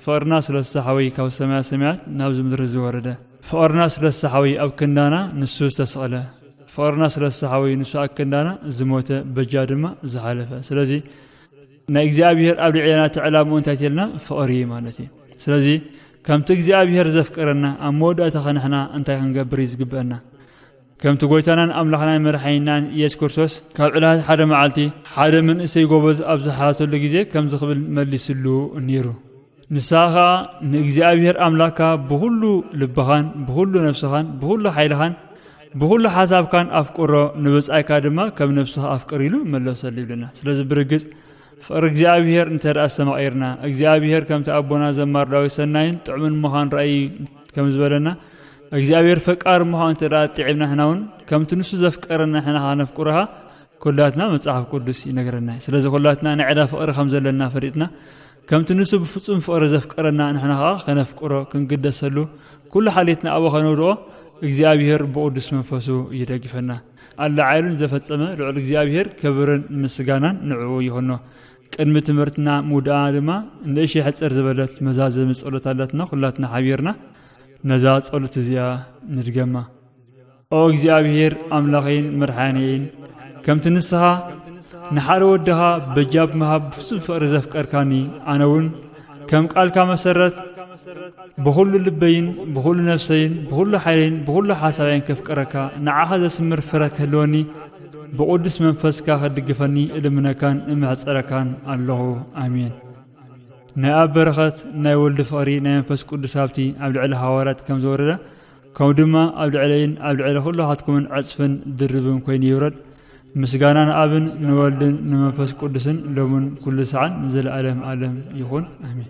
ፍቕርና ስለሳ ሓወይ ካብ ሰማያ ሰማያት ናብዚ ምድሪ ዝወረደ ፍቕርና ስለሳ ሓወይ ኣብ ክንዳና ንሱ ዝተሰቕለ ፍቕርና ስለሳ ሓወይ ንሱ ኣብ ክንዳና ዝሞተ በጃ ድማ ዝሓለፈ ስለዚ ናይ እግዚኣብሔር ኣብ ልዕለና ትዕላምኡ እንታይ ትልና ፍቕሪ ማለት እዩ ስለዚ ከምቲ እግዚኣብሔር ዘፍቅረና ኣብ መወዳእታ ኸንሕና እንታይ ክንገብር እዩ ዝግብአና ከምቲ ጎይታናን ኣምላኽናን መድሓኒናን ኢየሱስ ክርስቶስ ካብ ዕለታት ሓደ መዓልቲ ሓደ መንእሰይ ጎበዝ ኣብ ዝሓተሉ ግዜ ከምዚ ክብል መሊስሉ ነይሩ ንስኻ ከኣ ንእግዚኣብሔር ኣምላክካ ብኹሉ ልብኻን ብኹሉ ነፍስኻን ብኹሉ ሓይልኻን ብኹሉ ሓሳብካን ኣፍቅሮ ንብጻይካ ድማ ከም ነፍስኻ ኣፍቅር ኢሉ መለሰሉ ይብለና ስለዚ ብርግጽ ፍቕሪ እግዚኣብሔር እንተ ደኣ ኣስተማቒርና እግዚኣብሔር ከምቲ ኣቦና ዘማር ዳዊት ሰናይን ጥዑምን ምዃን ራእይ ከም ዝበለና እግዚኣብሔር ፈቃር ምዃኑ እንተ ኣጥዒምና ሕና እውን ከምቲ ንሱ ዘፍቀረና ሕና ኸዓ ነፍቅሩኻ ኩላትና መጽሓፍ ቅዱስ ይነግረና እዩ ስለዚ ኩላትና ናይ ዕዳ ፍቕሪ ከም ዘለና ፈሊጥና ከምቲ ንሱ ብፍጹም ፍቕሪ ዘፍቀረና ንሕና ኸዓ ከነፍቅሮ ክንግደሰሉ ኩሉ ሓልየትና ኣብኡ ከነውድቖ እግዚኣብሔር ብቕዱስ መንፈሱ ይደግፈና ኣላዓይሉን ዘፈጸመ ልዑል እግዚኣብሔር ክብርን ምስጋናን ንዕኡ ይኹኖ ቅድሚ ትምህርትና ምውድኣ ድማ ንእሽ ሕፅር ዝበለት መዛዘሚ ጸሎት ኣለትና ኩላትና ሓቢርና ነዛ ጸሎት እዚኣ ንድገማ ኦ እግዚኣብሔር ኣምላኸይን መድሓንየይን ከምቲ ንስኻ ንሓደ ወድኻ በጃብ ምሃብ ብፍጹም ፍቕሪ ዘፍቀርካኒ ኣነ እውን ከም ቃልካ መሰረት ብዅሉ ልበይን ብዅሉ ነፍሰይን ብዅሉ ሓይለይን ብዅሉ ሓሳብየን ከፍቅረካ ንዓኻ ዘስምር ፍረ ክህልወኒ ብቕዱስ መንፈስካ ኸድግፈኒ እልምነካን እምሕፀረካን ኣለኹ ኣሜን ናይ ኣብ በረኸት ናይ ወልድ ፍቕሪ ናይ መንፈስ ቅዱስ ሃብቲ ኣብ ልዕሊ ሃዋርያት ከም ዝወረደ ከምኡ ድማ ኣብ ልዕለይን ኣብ ልዕሊ ኩላኻትኩምን ዕጽፍን ድርብን ኮይኑ ይውረድ ምስጋና ንኣብን ንወልድን ንመንፈስ ቅዱስን ሎምን ኩሉ ሰዓን ንዘለኣለም ኣለም ይኹን ኣሜን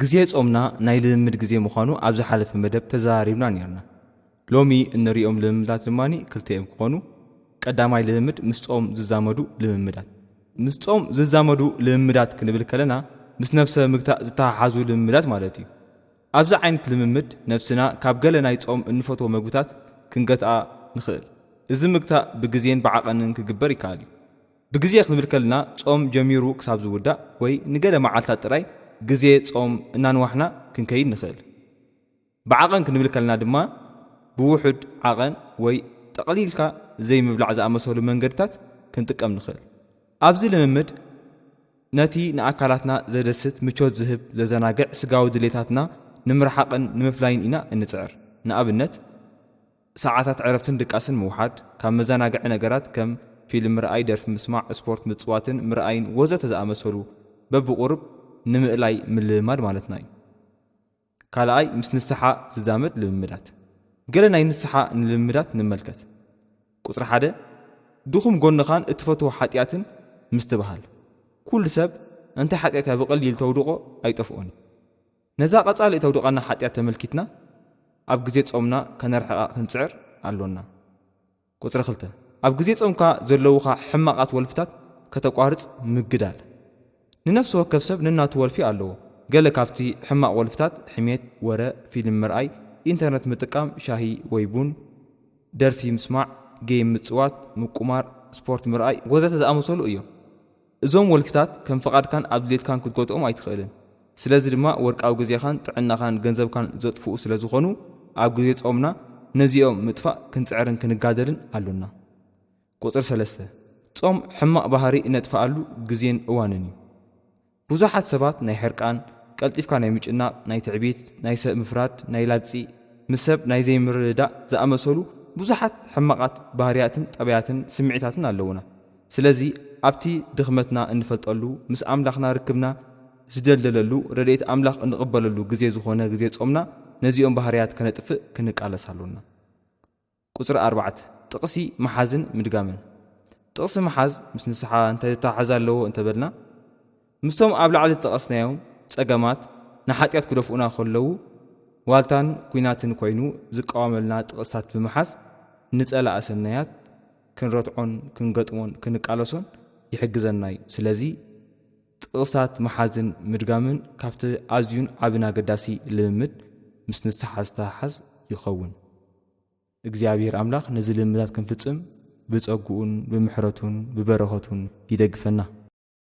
ግዜ ጾምና ናይ ልምምድ ግዜ ምዃኑ ኣብ ዝሓለፈ መደብ ተዘራሪብና ኔርና። ሎሚ እንርእዮም ልምምዳት ድማ ክልተ እዮም ክኾኑ። ቀዳማይ ልምምድ ምስ ጾም ዝዛመዱ ልምምዳት። ምስ ጾም ዝዛመዱ ልምምዳት ክንብል ከለና ምስ ነብሰ ምግታእ ዝተሓሓዙ ልምምዳት ማለት እዩ። ኣብዚ ዓይነት ልምምድ ነብስና ካብ ገለ ናይ ጾም እንፈትዎ መግብታት ክንገትኣ ንኽእል። እዚ ምግታእ ብግዜን ብዓቐንን ክግበር ይከኣል እዩ። ብግዜ ክንብል ከልና ጾም ጀሚሩ ክሳብ ዝውዳእ ወይ ንገለ መዓልታት ጥራይ ግዜ ጾም እናንዋሕና ክንከይድ ንኽእል። ብዓቐን ክንብል ከልና ድማ ብውሑድ ዓቐን ወይ ጠቕሊልካ ዘይምብላዕ ዝኣመሰሉ መንገድታት ክንጥቀም ንኽእል። ኣብዚ ልምምድ ነቲ ንኣካላትና ዘደስት፣ ምቾት ዝህብ፣ ዘዘናግዕ ስጋዊ ድሌታትና ንምርሓቕን ንምፍላይን ኢና እንጽዕር። ንኣብነት። ሰዓታት ዕረፍትን ድቃስን ምውሓድ፣ ካብ መዘናግዒ ነገራት ከም ፊልም ምርኣይ፣ ደርፊ ምስማዕ፣ ስፖርት ምጽዋትን ምርኣይን ወዘተ ዝኣመሰሉ በብቑሩብ ንምእላይ ምልምማድ ማለትና እዩ። ካልኣይ ምስ ንስሓ ዝዛመድ ልምምዳት። ገለ ናይ ንስሓ ንልምምዳት ንመልከት። ቁጽሪ ሓደ፣ ድኹም ጎንኻን እትፈትዎ ሓጥያትን ምስትብሃል። ኩሉ ሰብ እንታይ ሓጥያት እያ ብቐሊል ተውድቖ ኣይጠፍኦን እዩ። ነዛ ቀጻሊ እተውድቐና ሓጢኣት ተመልኪትና ኣብ ግዜ ጾምና ከነርሕቓ ክንጽዕር ኣሎና። ቁጽሪ ክልተ፣ ኣብ ግዜ ጾምካ ዘለዉኻ ሕማቓት ወልፍታት ከተቋርጽ ምግዳል። ንነፍሲ ወከፍ ሰብ ነናቱ ወልፊ ኣለዎ። ገለ ካብቲ ሕማቕ ወልፍታት ሕሜት፣ ወረ፣ ፊልም ምርኣይ፣ ኢንተርነት ምጥቃም፣ ሻሂ ወይ ቡን፣ ደርፊ ምስማዕ፣ ገይም ምጽዋት፣ ምቁማር፣ ስፖርት ምርኣይ ወዘተ ዝኣመሰሉ እዮም። እዞም ወልፍታት ከም ፍቓድካን ኣብ ድሌትካን ክትጎትኦም ኣይትኽእልን። ስለዚ ድማ ወርቃዊ ግዜኻን ጥዕናኻን ገንዘብካን ዘጥፍኡ ስለ ዝኾኑ ኣብ ግዜ ጾምና ነዚኦም ምጥፋእ ክንጽዕርን ክንጋደልን ኣሎና። ቁጽሪ ሰለስተ፣ ጾም ሕማቕ ባህሪ እነጥፍኣሉ ግዜን እዋንን እዩ። ብዙሓት ሰባት ናይ ሕርቃን፣ ቀልጢፍካ ናይ ምጭናቕ፣ ናይ ትዕቢት፣ ናይ ሰብ ምፍራድ፣ ናይ ላግጺ፣ ምስ ሰብ ናይ ዘይምርድዳእ ዝኣመሰሉ ብዙሓት ሕማቓት ባህርያትን ጠባያትን ስምዒታትን ኣለዉና። ስለዚ ኣብቲ ድኽመትና እንፈልጠሉ ምስ ኣምላኽና ርክብና ዝደልደለሉ ረድኤት ኣምላኽ እንቕበለሉ ግዜ ዝኾነ ግዜ ጾምና ነዚኦም ባህርያት ከነጥፍእ ክንቃለስ ኣሎና። ቁጽሪ ኣርባዕተ፣ ጥቕሲ ምሓዝን ምድጋምን። ጥቕሲ ምሓዝ ምስ ንስሓ እንታይ ዝተሓሓዝ ኣለዎ እንተበልና፣ ምስቶም ኣብ ላዕሊ ዝጠቐስናዮም ጸገማት ንሓጢኣት ክደፍኡና ከለዉ ዋልታን ኲናትን ኮይኑ ዝቃወመልና ጥቕስታት ብምሓዝ ንጸላኢ ሰናያት ክንረትዖን ክንገጥሞን ክንቃለሶን ይሕግዘና እዩ። ስለዚ ጥቕስታት ምሓዝን ምድጋምን ካብቲ ኣዝዩን ዓብን ኣገዳሲ ልምምድ ምስ ንስሓ ዝተሓሓዝ ይኸውን። እግዚኣብሔር ኣምላኽ ነዚ ልምምዳት ክንፍጽም ብጸግኡን ብምሕረቱን ብበረኸቱን ይደግፈና።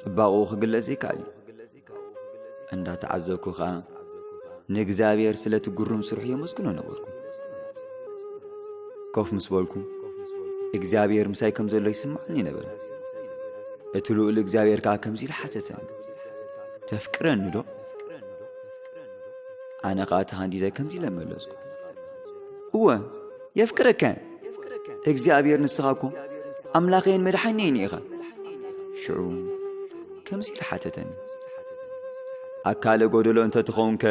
ጽባቕኡ ክግለጽ ይከኣል እዩ። እንዳ ተዓዘብኩ ኸኣ ንእግዚኣብሔር ስለቲ ግሩም ስርሑ የመስግኖ ነበርኩ። ኮፍ ምስ በልኩ እግዚኣብሔር ምሳይ ከም ዘሎ ይስምዓኒ ነበረ። እቲ ልኡል እግዚኣብሔር ከኣ ከምዚ ኢሉ ሓተተኒ፣ ተፍቅረኒ ዶ? ኣነ ኸኣ ተሃንዲደ ከምዚ ኢለ መለስኩ፣ እወ የፍቅረካ። እግዚኣብሔር ንስኻ እኮ ኣምላኸይን መድሓኒይን ኢኻ ሽዑ ከምዚ ኢሉ ሓተተኒ ኣካለ ጎደሎ እንተ ትኸውንከ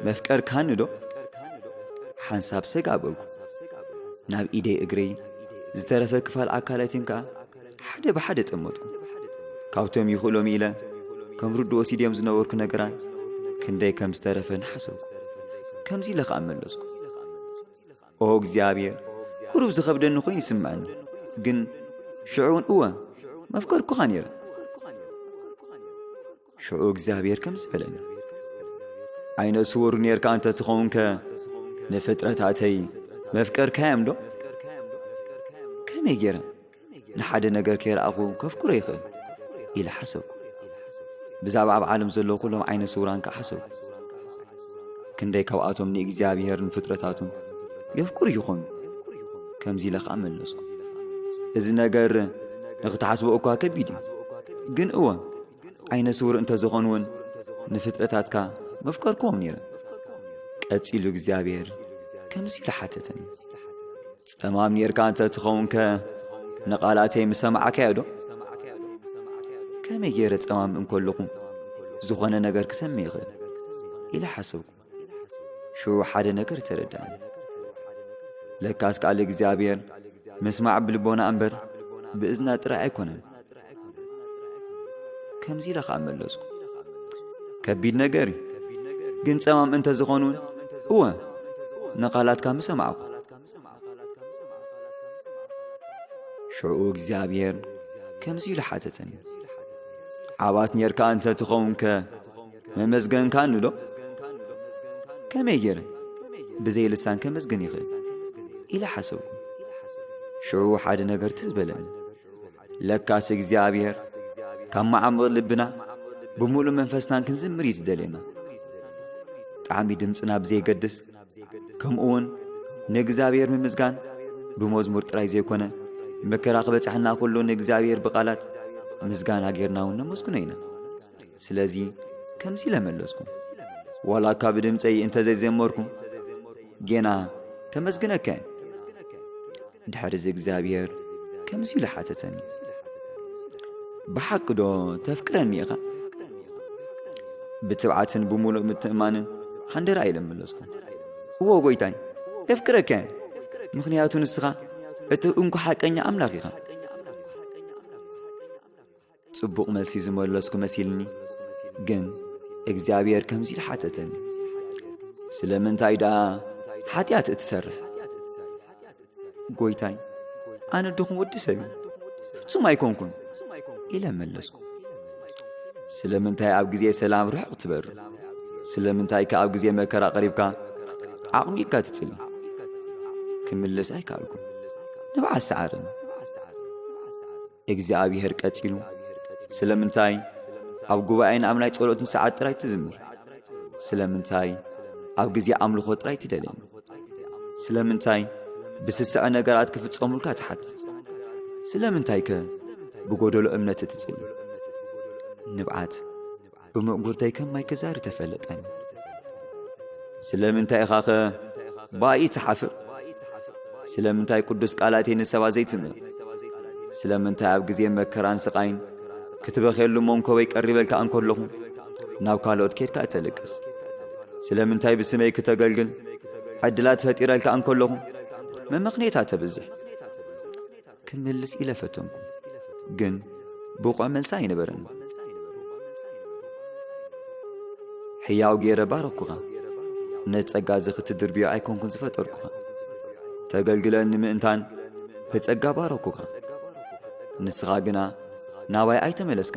መፍቀርካኒ ዶ ሓንሳብ ሰጋ በልኩ ናብ ኢደይ እግረይ ዝተረፈ ክፋል ኣካላትን ከኣ ሓደ ብሓደ ጠመጥኩ ካብቶም ይኽእሎም ኢለ ከም ርዱ ወሲድዮም ዝነበርኩ ነገራት ክንደይ ከም ዝተረፈ ንሓሰብኩ ከምዚ ኢለ ኸኣ መለስኩ ኦ እግዚኣብሔር ቁሩብ ዝኸብደኒ ኮይኑ ይስምዐኒ ግን ሽዑ እውን እወ መፍቀርኩኻ ነይረ ሽዑ እግዚኣብሔር ከምዚ በለኒ ዓይነ ስውር ነርካ እንተ ትኸውንከ ንፍጥረታተይ መፍቀርካዮም ዶ ከመይ ገይረ ንሓደ ነገር ከይረኣኹ ከፍኩረ ይኽእል ኢለ ሓሰብኩ ብዛዕባ ኣብ ዓለም ዘለዉ ኩሎም ዓይነ ስውራን ከዓ ሓሰብኩ ክንደይ ካብኣቶም ንእግዚኣብሔርን ፍጥረታቱን የፍቅሩ ይኾኑ ከምዚ ኢለ ከዓ መለስኩ እዚ ነገር ንኽትሓስቦ እኳ ከቢድ እዩ ግን እወ ዓይነ ስውር እንተ ዝዀን እውን ንፍጥረታትካ መፍቀርክዎም ነይረ። ቀጺሉ እግዚኣብሔር ከምዚ ኢሉ ሓተተኒ፣ ጸማም ነርካ እንተ ትኸውንከ ንቓላተይ ምሰማዕካዮዶ? ከመይ ገይረ ጸማም እንከለኹ ዝኾነ ነገር ክሰምዕ ይኽእል ኢለ ሓሰብኩ። ሽዑ ሓደ ነገር ተረዳእኒ ለካስ ቃል እግዚኣብሔር ምስማዕ ብልቦና እምበር ብእዝና ጥራይ ኣይኮነን ከምዚ ኢለ ኸዓ መለስኩ ከቢድ ነገር እዩ ግን ጸማም እንተ ዝኾኑን እወ ንቓላትካ ምሰማዕኩ ሽዑ እግዚኣብሔር ከምዚ ኢሉ ሓተተኒ ዓባስ ኔርካ እንተ ትኸውንከ መመስገንካኒ ዶ? ከመይ ገይረ ብዘይ ልሳን ከመስግን ይኽእል? ኢለ ሓሰብኩ። ሽዑ ሓደ ነገር ትዝ በለኒ። ለካስ እግዚኣብሔር ካብ መዓሙቕ ልብና ብምሉእ መንፈስናን ክንዝምር እዩ ዝደልየና። ጣዕሚ ድምፅና ብዘይገድስ ከምኡ እውን ንእግዚኣብሔር ምምስጋን ብመዝሙር ጥራይ ዘይኮነ መከራ ክበፅሐና ኩሉ ንእግዚኣብሔር ብቓላት ምስጋና ጌርና እውን ነመስግኖ ኢና። ስለዚ ከምዚ ኢለ መለስኩ ዋላ እካ ብድምፀይ እንተዘይዘመርኩ ጌና ከመስግነካ እየ ድሕሪ እዚ እግዚኣብሔር ከምዚ ኢሉ ሓተተኒ ብሓቂ ዶ ተፍቅረኒ ኢኻ ብትብዓትን ብምሉእ ምትእማንን ሓንደራ ኢለ መለስኩ እዎ ጎይታይ የፍቅረካ እየ ምኽንያቱ ንስኻ እቲ እንኩ ሓቀኛ ኣምላኽ ኢኻ ጽቡቕ መልሲ ዝመለስኩ መሲልኒ፣ ግን እግዚኣብሔር ከምዚ ኢሉ ሓተተኒ፣ ስለምንታይ ደኣ ሓጢኣት እትሰርሕ? ጐይታይ፣ ኣነ ድኹም ወዲ ሰብ እዩ፣ ፍጹም ኣይኰንኩን ኢለ መለስኩ። ስለምንታይ ኣብ ግዜ ሰላም ርሑቕ ትበሪ? ስለምንታይ ከ ኣብ ግዜ መከራ ቐሪብካ ዓቕሚካ ትጽሊ? ክምልስ ኣይከኣልኩን፣ ንብዓት ሰዓረኒ። እግዚኣብሔር ቀጺሉ ስለምንታይ ኣብ ጉባኤን ኣብ ናይ ጸሎትን ሰዓት ጥራይ ትዝምር? ስለምንታይ ኣብ ግዜ ኣምልኾ ጥራይ ትደልየኒ? ስለምንታይ ብስስዐ ነገራት ክፍጸሙልካ ትሓትት? ስለምንታይከ ብጎደሎ እምነት እትጽሊ? ንብዓት ብምእጉርተይ ከም ማይ ክዛሪ ተፈለጠኒ ስለምንታይ ኢኻኸ ባኢ ትሓፍር ስለምንታይ ቅዱስ ቃላተይ ንሰባት ዘይትምእ ስለምንታይ ኣብ ግዜ መከራን ስቓይን ክትበኼሉ መንኮበይ ቀሪበልካ እንከለኹ ናብ ካልኦት ኬድካ እተልቅስ ስለምንታይ ብስመይ ክተገልግል ዕድላት ፈጢረልካ እንከለኹ መመኽኔታ ተብዝሕ ክምልስ ኢለ ፈተንኩ ግን ብቑዕ መልሲ ኣይነበረን ሕያው ገይረ ባረኩኻ ነቲ ጸጋ እዚ ክትድርብዮ ኣይኮንኩን ዝፈጠርኩኻ ተገልግለኒ ምእንታን ብጸጋ ባረኩኻ ንስኻ ግና ናባይ ኣይተመለስካ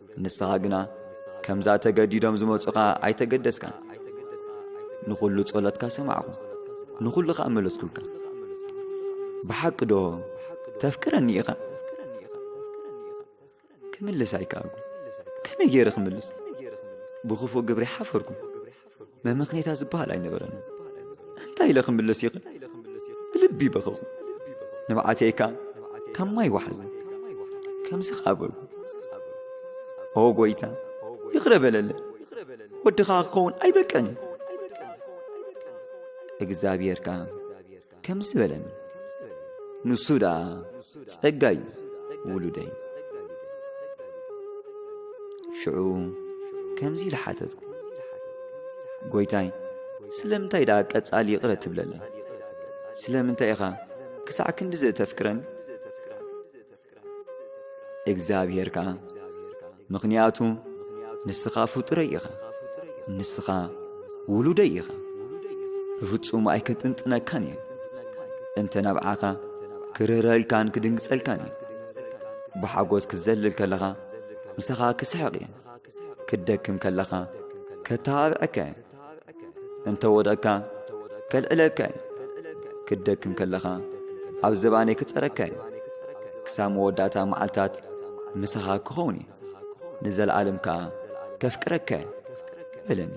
ንስኻ ግና ከምዛ ተገዲዶም ዝመጹኻ ኣይተገደስካን ንዅሉ ጸሎትካ ሰማዕኹ ንዅሉ ኸኣ መለስኩልካ ብሓቂ ዶ ተፍቅረኒ ኢኻ ክምልስ ኣይከኣልኩ ከመይ ገይረ ክምልስ ብኽፉእ ግብሪ ሓፈርኩ መመኽኔታ ዝበሃል ኣይነበረን እንታይ ኢለ ክምልስ ይኽ ብልቢ በኸኹ ንብዓተይካ ካብ ማይ ወሓዘ ከምዚ ኸዓ በልኩ ኦ ጐይታ ይኽረ በለለ ወድኻ ክኸውን ኣይበቀን እዩ እግዚኣብሔር ከ ከምዚ በለኒ ንሱ ደኣ ጸጋዩ ውሉደይ ሽዑ ከምዚ ኢለ ሓተትኩ ጐይታይ ስለምንታይ ደኣ ቀጻሊ ይቕረ ትብለለይ ስለምንታይ ኢኻ ክሳዕ ክንዲ ዘተፍቅረኒ እግዚኣብሔር ከዓ ምኽንያቱ ንስኻ ፍጡረይ ኢኻ ንስኻ ውሉደይ ኢኻ ብፍጹም ኣይክጥንጥነካን እየ እንተ ናብዓኻ ክርህረልካን ክድንግጸልካን እየ ብሓጎስ ክትዘልል ከለኻ ምሳኻ ክስሕቕ እየ ክትደክም ከለኻ ከተባብዐካ እየ እንተ ወደቕካ ከልዕለካ እዩ ክደክም ከለኻ ኣብ ዘባነይ ክጸረካ እዩ ክሳብ መወዳእታ መዓልታት ምሳኻ ክኸውን እዩ ንዘለኣለም ከኣ ከፍቅረካ እዩ በለኒ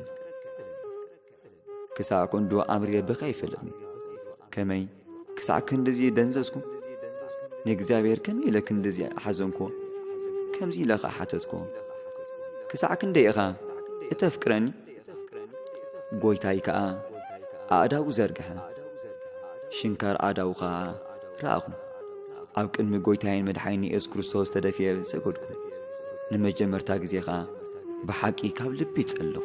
ክሳዕ ክንዱ ኣምሪረ ብኸ ይፈለጥኒ ከመይ ክሳዕ ክንድዚ ደንዘዝኩ? ንእግዚኣብሔር ከመይ ኢለ ክንድዚ ሓዘንኩዎ? ከምዚ ኢለ ኸኣ ሓተትኩዎ፣ ክሳዕ ክንደይ ኢኻ እተፍቅረኒ? ጐይታይ ከኣ ኣእዳዉ ዘርግሐ፣ ሽንካር ኣእዳዉ ኸኣ ረኣኹ። ኣብ ቅድሚ ጐይታይን መድሓኒን የሱስ ክርስቶስ ተደፊኤ ሰገድኩ። ንመጀመርታ ግዜ ኸኣ ብሓቂ ካብ ልቢ ጸለኹ።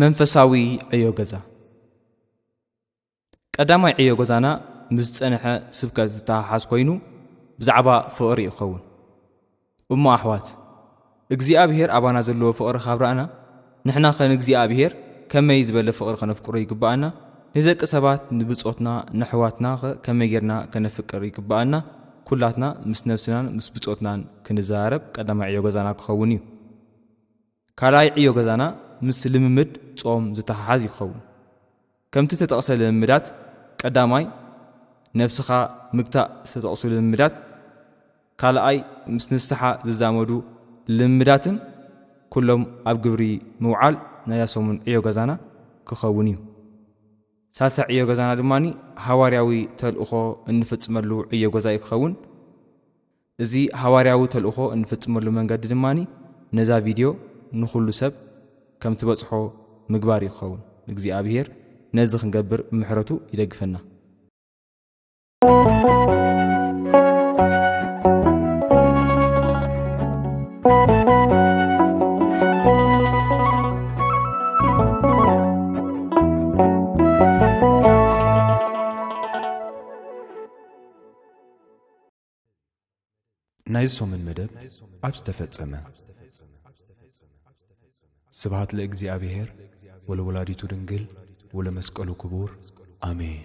መንፈሳዊ ዕዮ ገዛ ቀዳማይ ዕዮ ገዛና ምስ ዝጸንሐ ስብከት ዝተሓሓዝ ኮይኑ ብዛዕባ ፍቕሪ ይኸውን እሞ ኣሕዋት እግዚኣብሄር ኣባና ዘለዎ ፍቕሪ ካብ ረኣና ንሕና ኸ ንእግዚኣብሄር ከመይ ዝበለ ፍቕሪ ከነፍቅሮ ይግብኣና ንደቂ ሰባት ንብጾትና ንኣሕዋትና ኸ ከመይ ጌርና ከነፍቅር ይግብኣና ኩላትና ምስ ነብስናን ምስ ብጾትናን ክንዘራረብ ቀዳማይ ዕዮ ገዛና ክኸውን እዩ ካልኣይ ዕዮ ገዛና ምስ ልምምድ ጾም ዝተሓሓዝ ይኸውን። ከምቲ እተጠቕሰ ልምምዳት ቀዳማይ ነፍስኻ ምግታእ ዝተጠቕሱ ልምምዳት ካልኣይ ምስ ንስሓ ዝዛመዱ ልምምዳትን ኩሎም ኣብ ግብሪ ምውዓል ናይዛ ሰሙን ዕዮ ገዛና ክኸውን እዩ። ሳልሳይ ዕዮ ገዛና ድማ ሃዋርያዊ ተልእኾ እንፍጽመሉ ዕዮ ገዛ እዩ ክኸውን። እዚ ሃዋርያዊ ተልእኾ እንፍጽመሉ መንገዲ ድማ ነዛ ቪድዮ ንዅሉ ሰብ ከም ትበጽሖ ምግባር እዩ ክኸውን። እግዚኣብሄር ነዚ ክንገብር ብምሕረቱ ይደግፈና። ናይዚ ሰሙን መደብ ኣብ ዝተፈጸመ ስብሃት ለእግዚኣብሔር ወለወላዲቱ ድንግል ወለመስቀሉ ክቡር ኣሜን።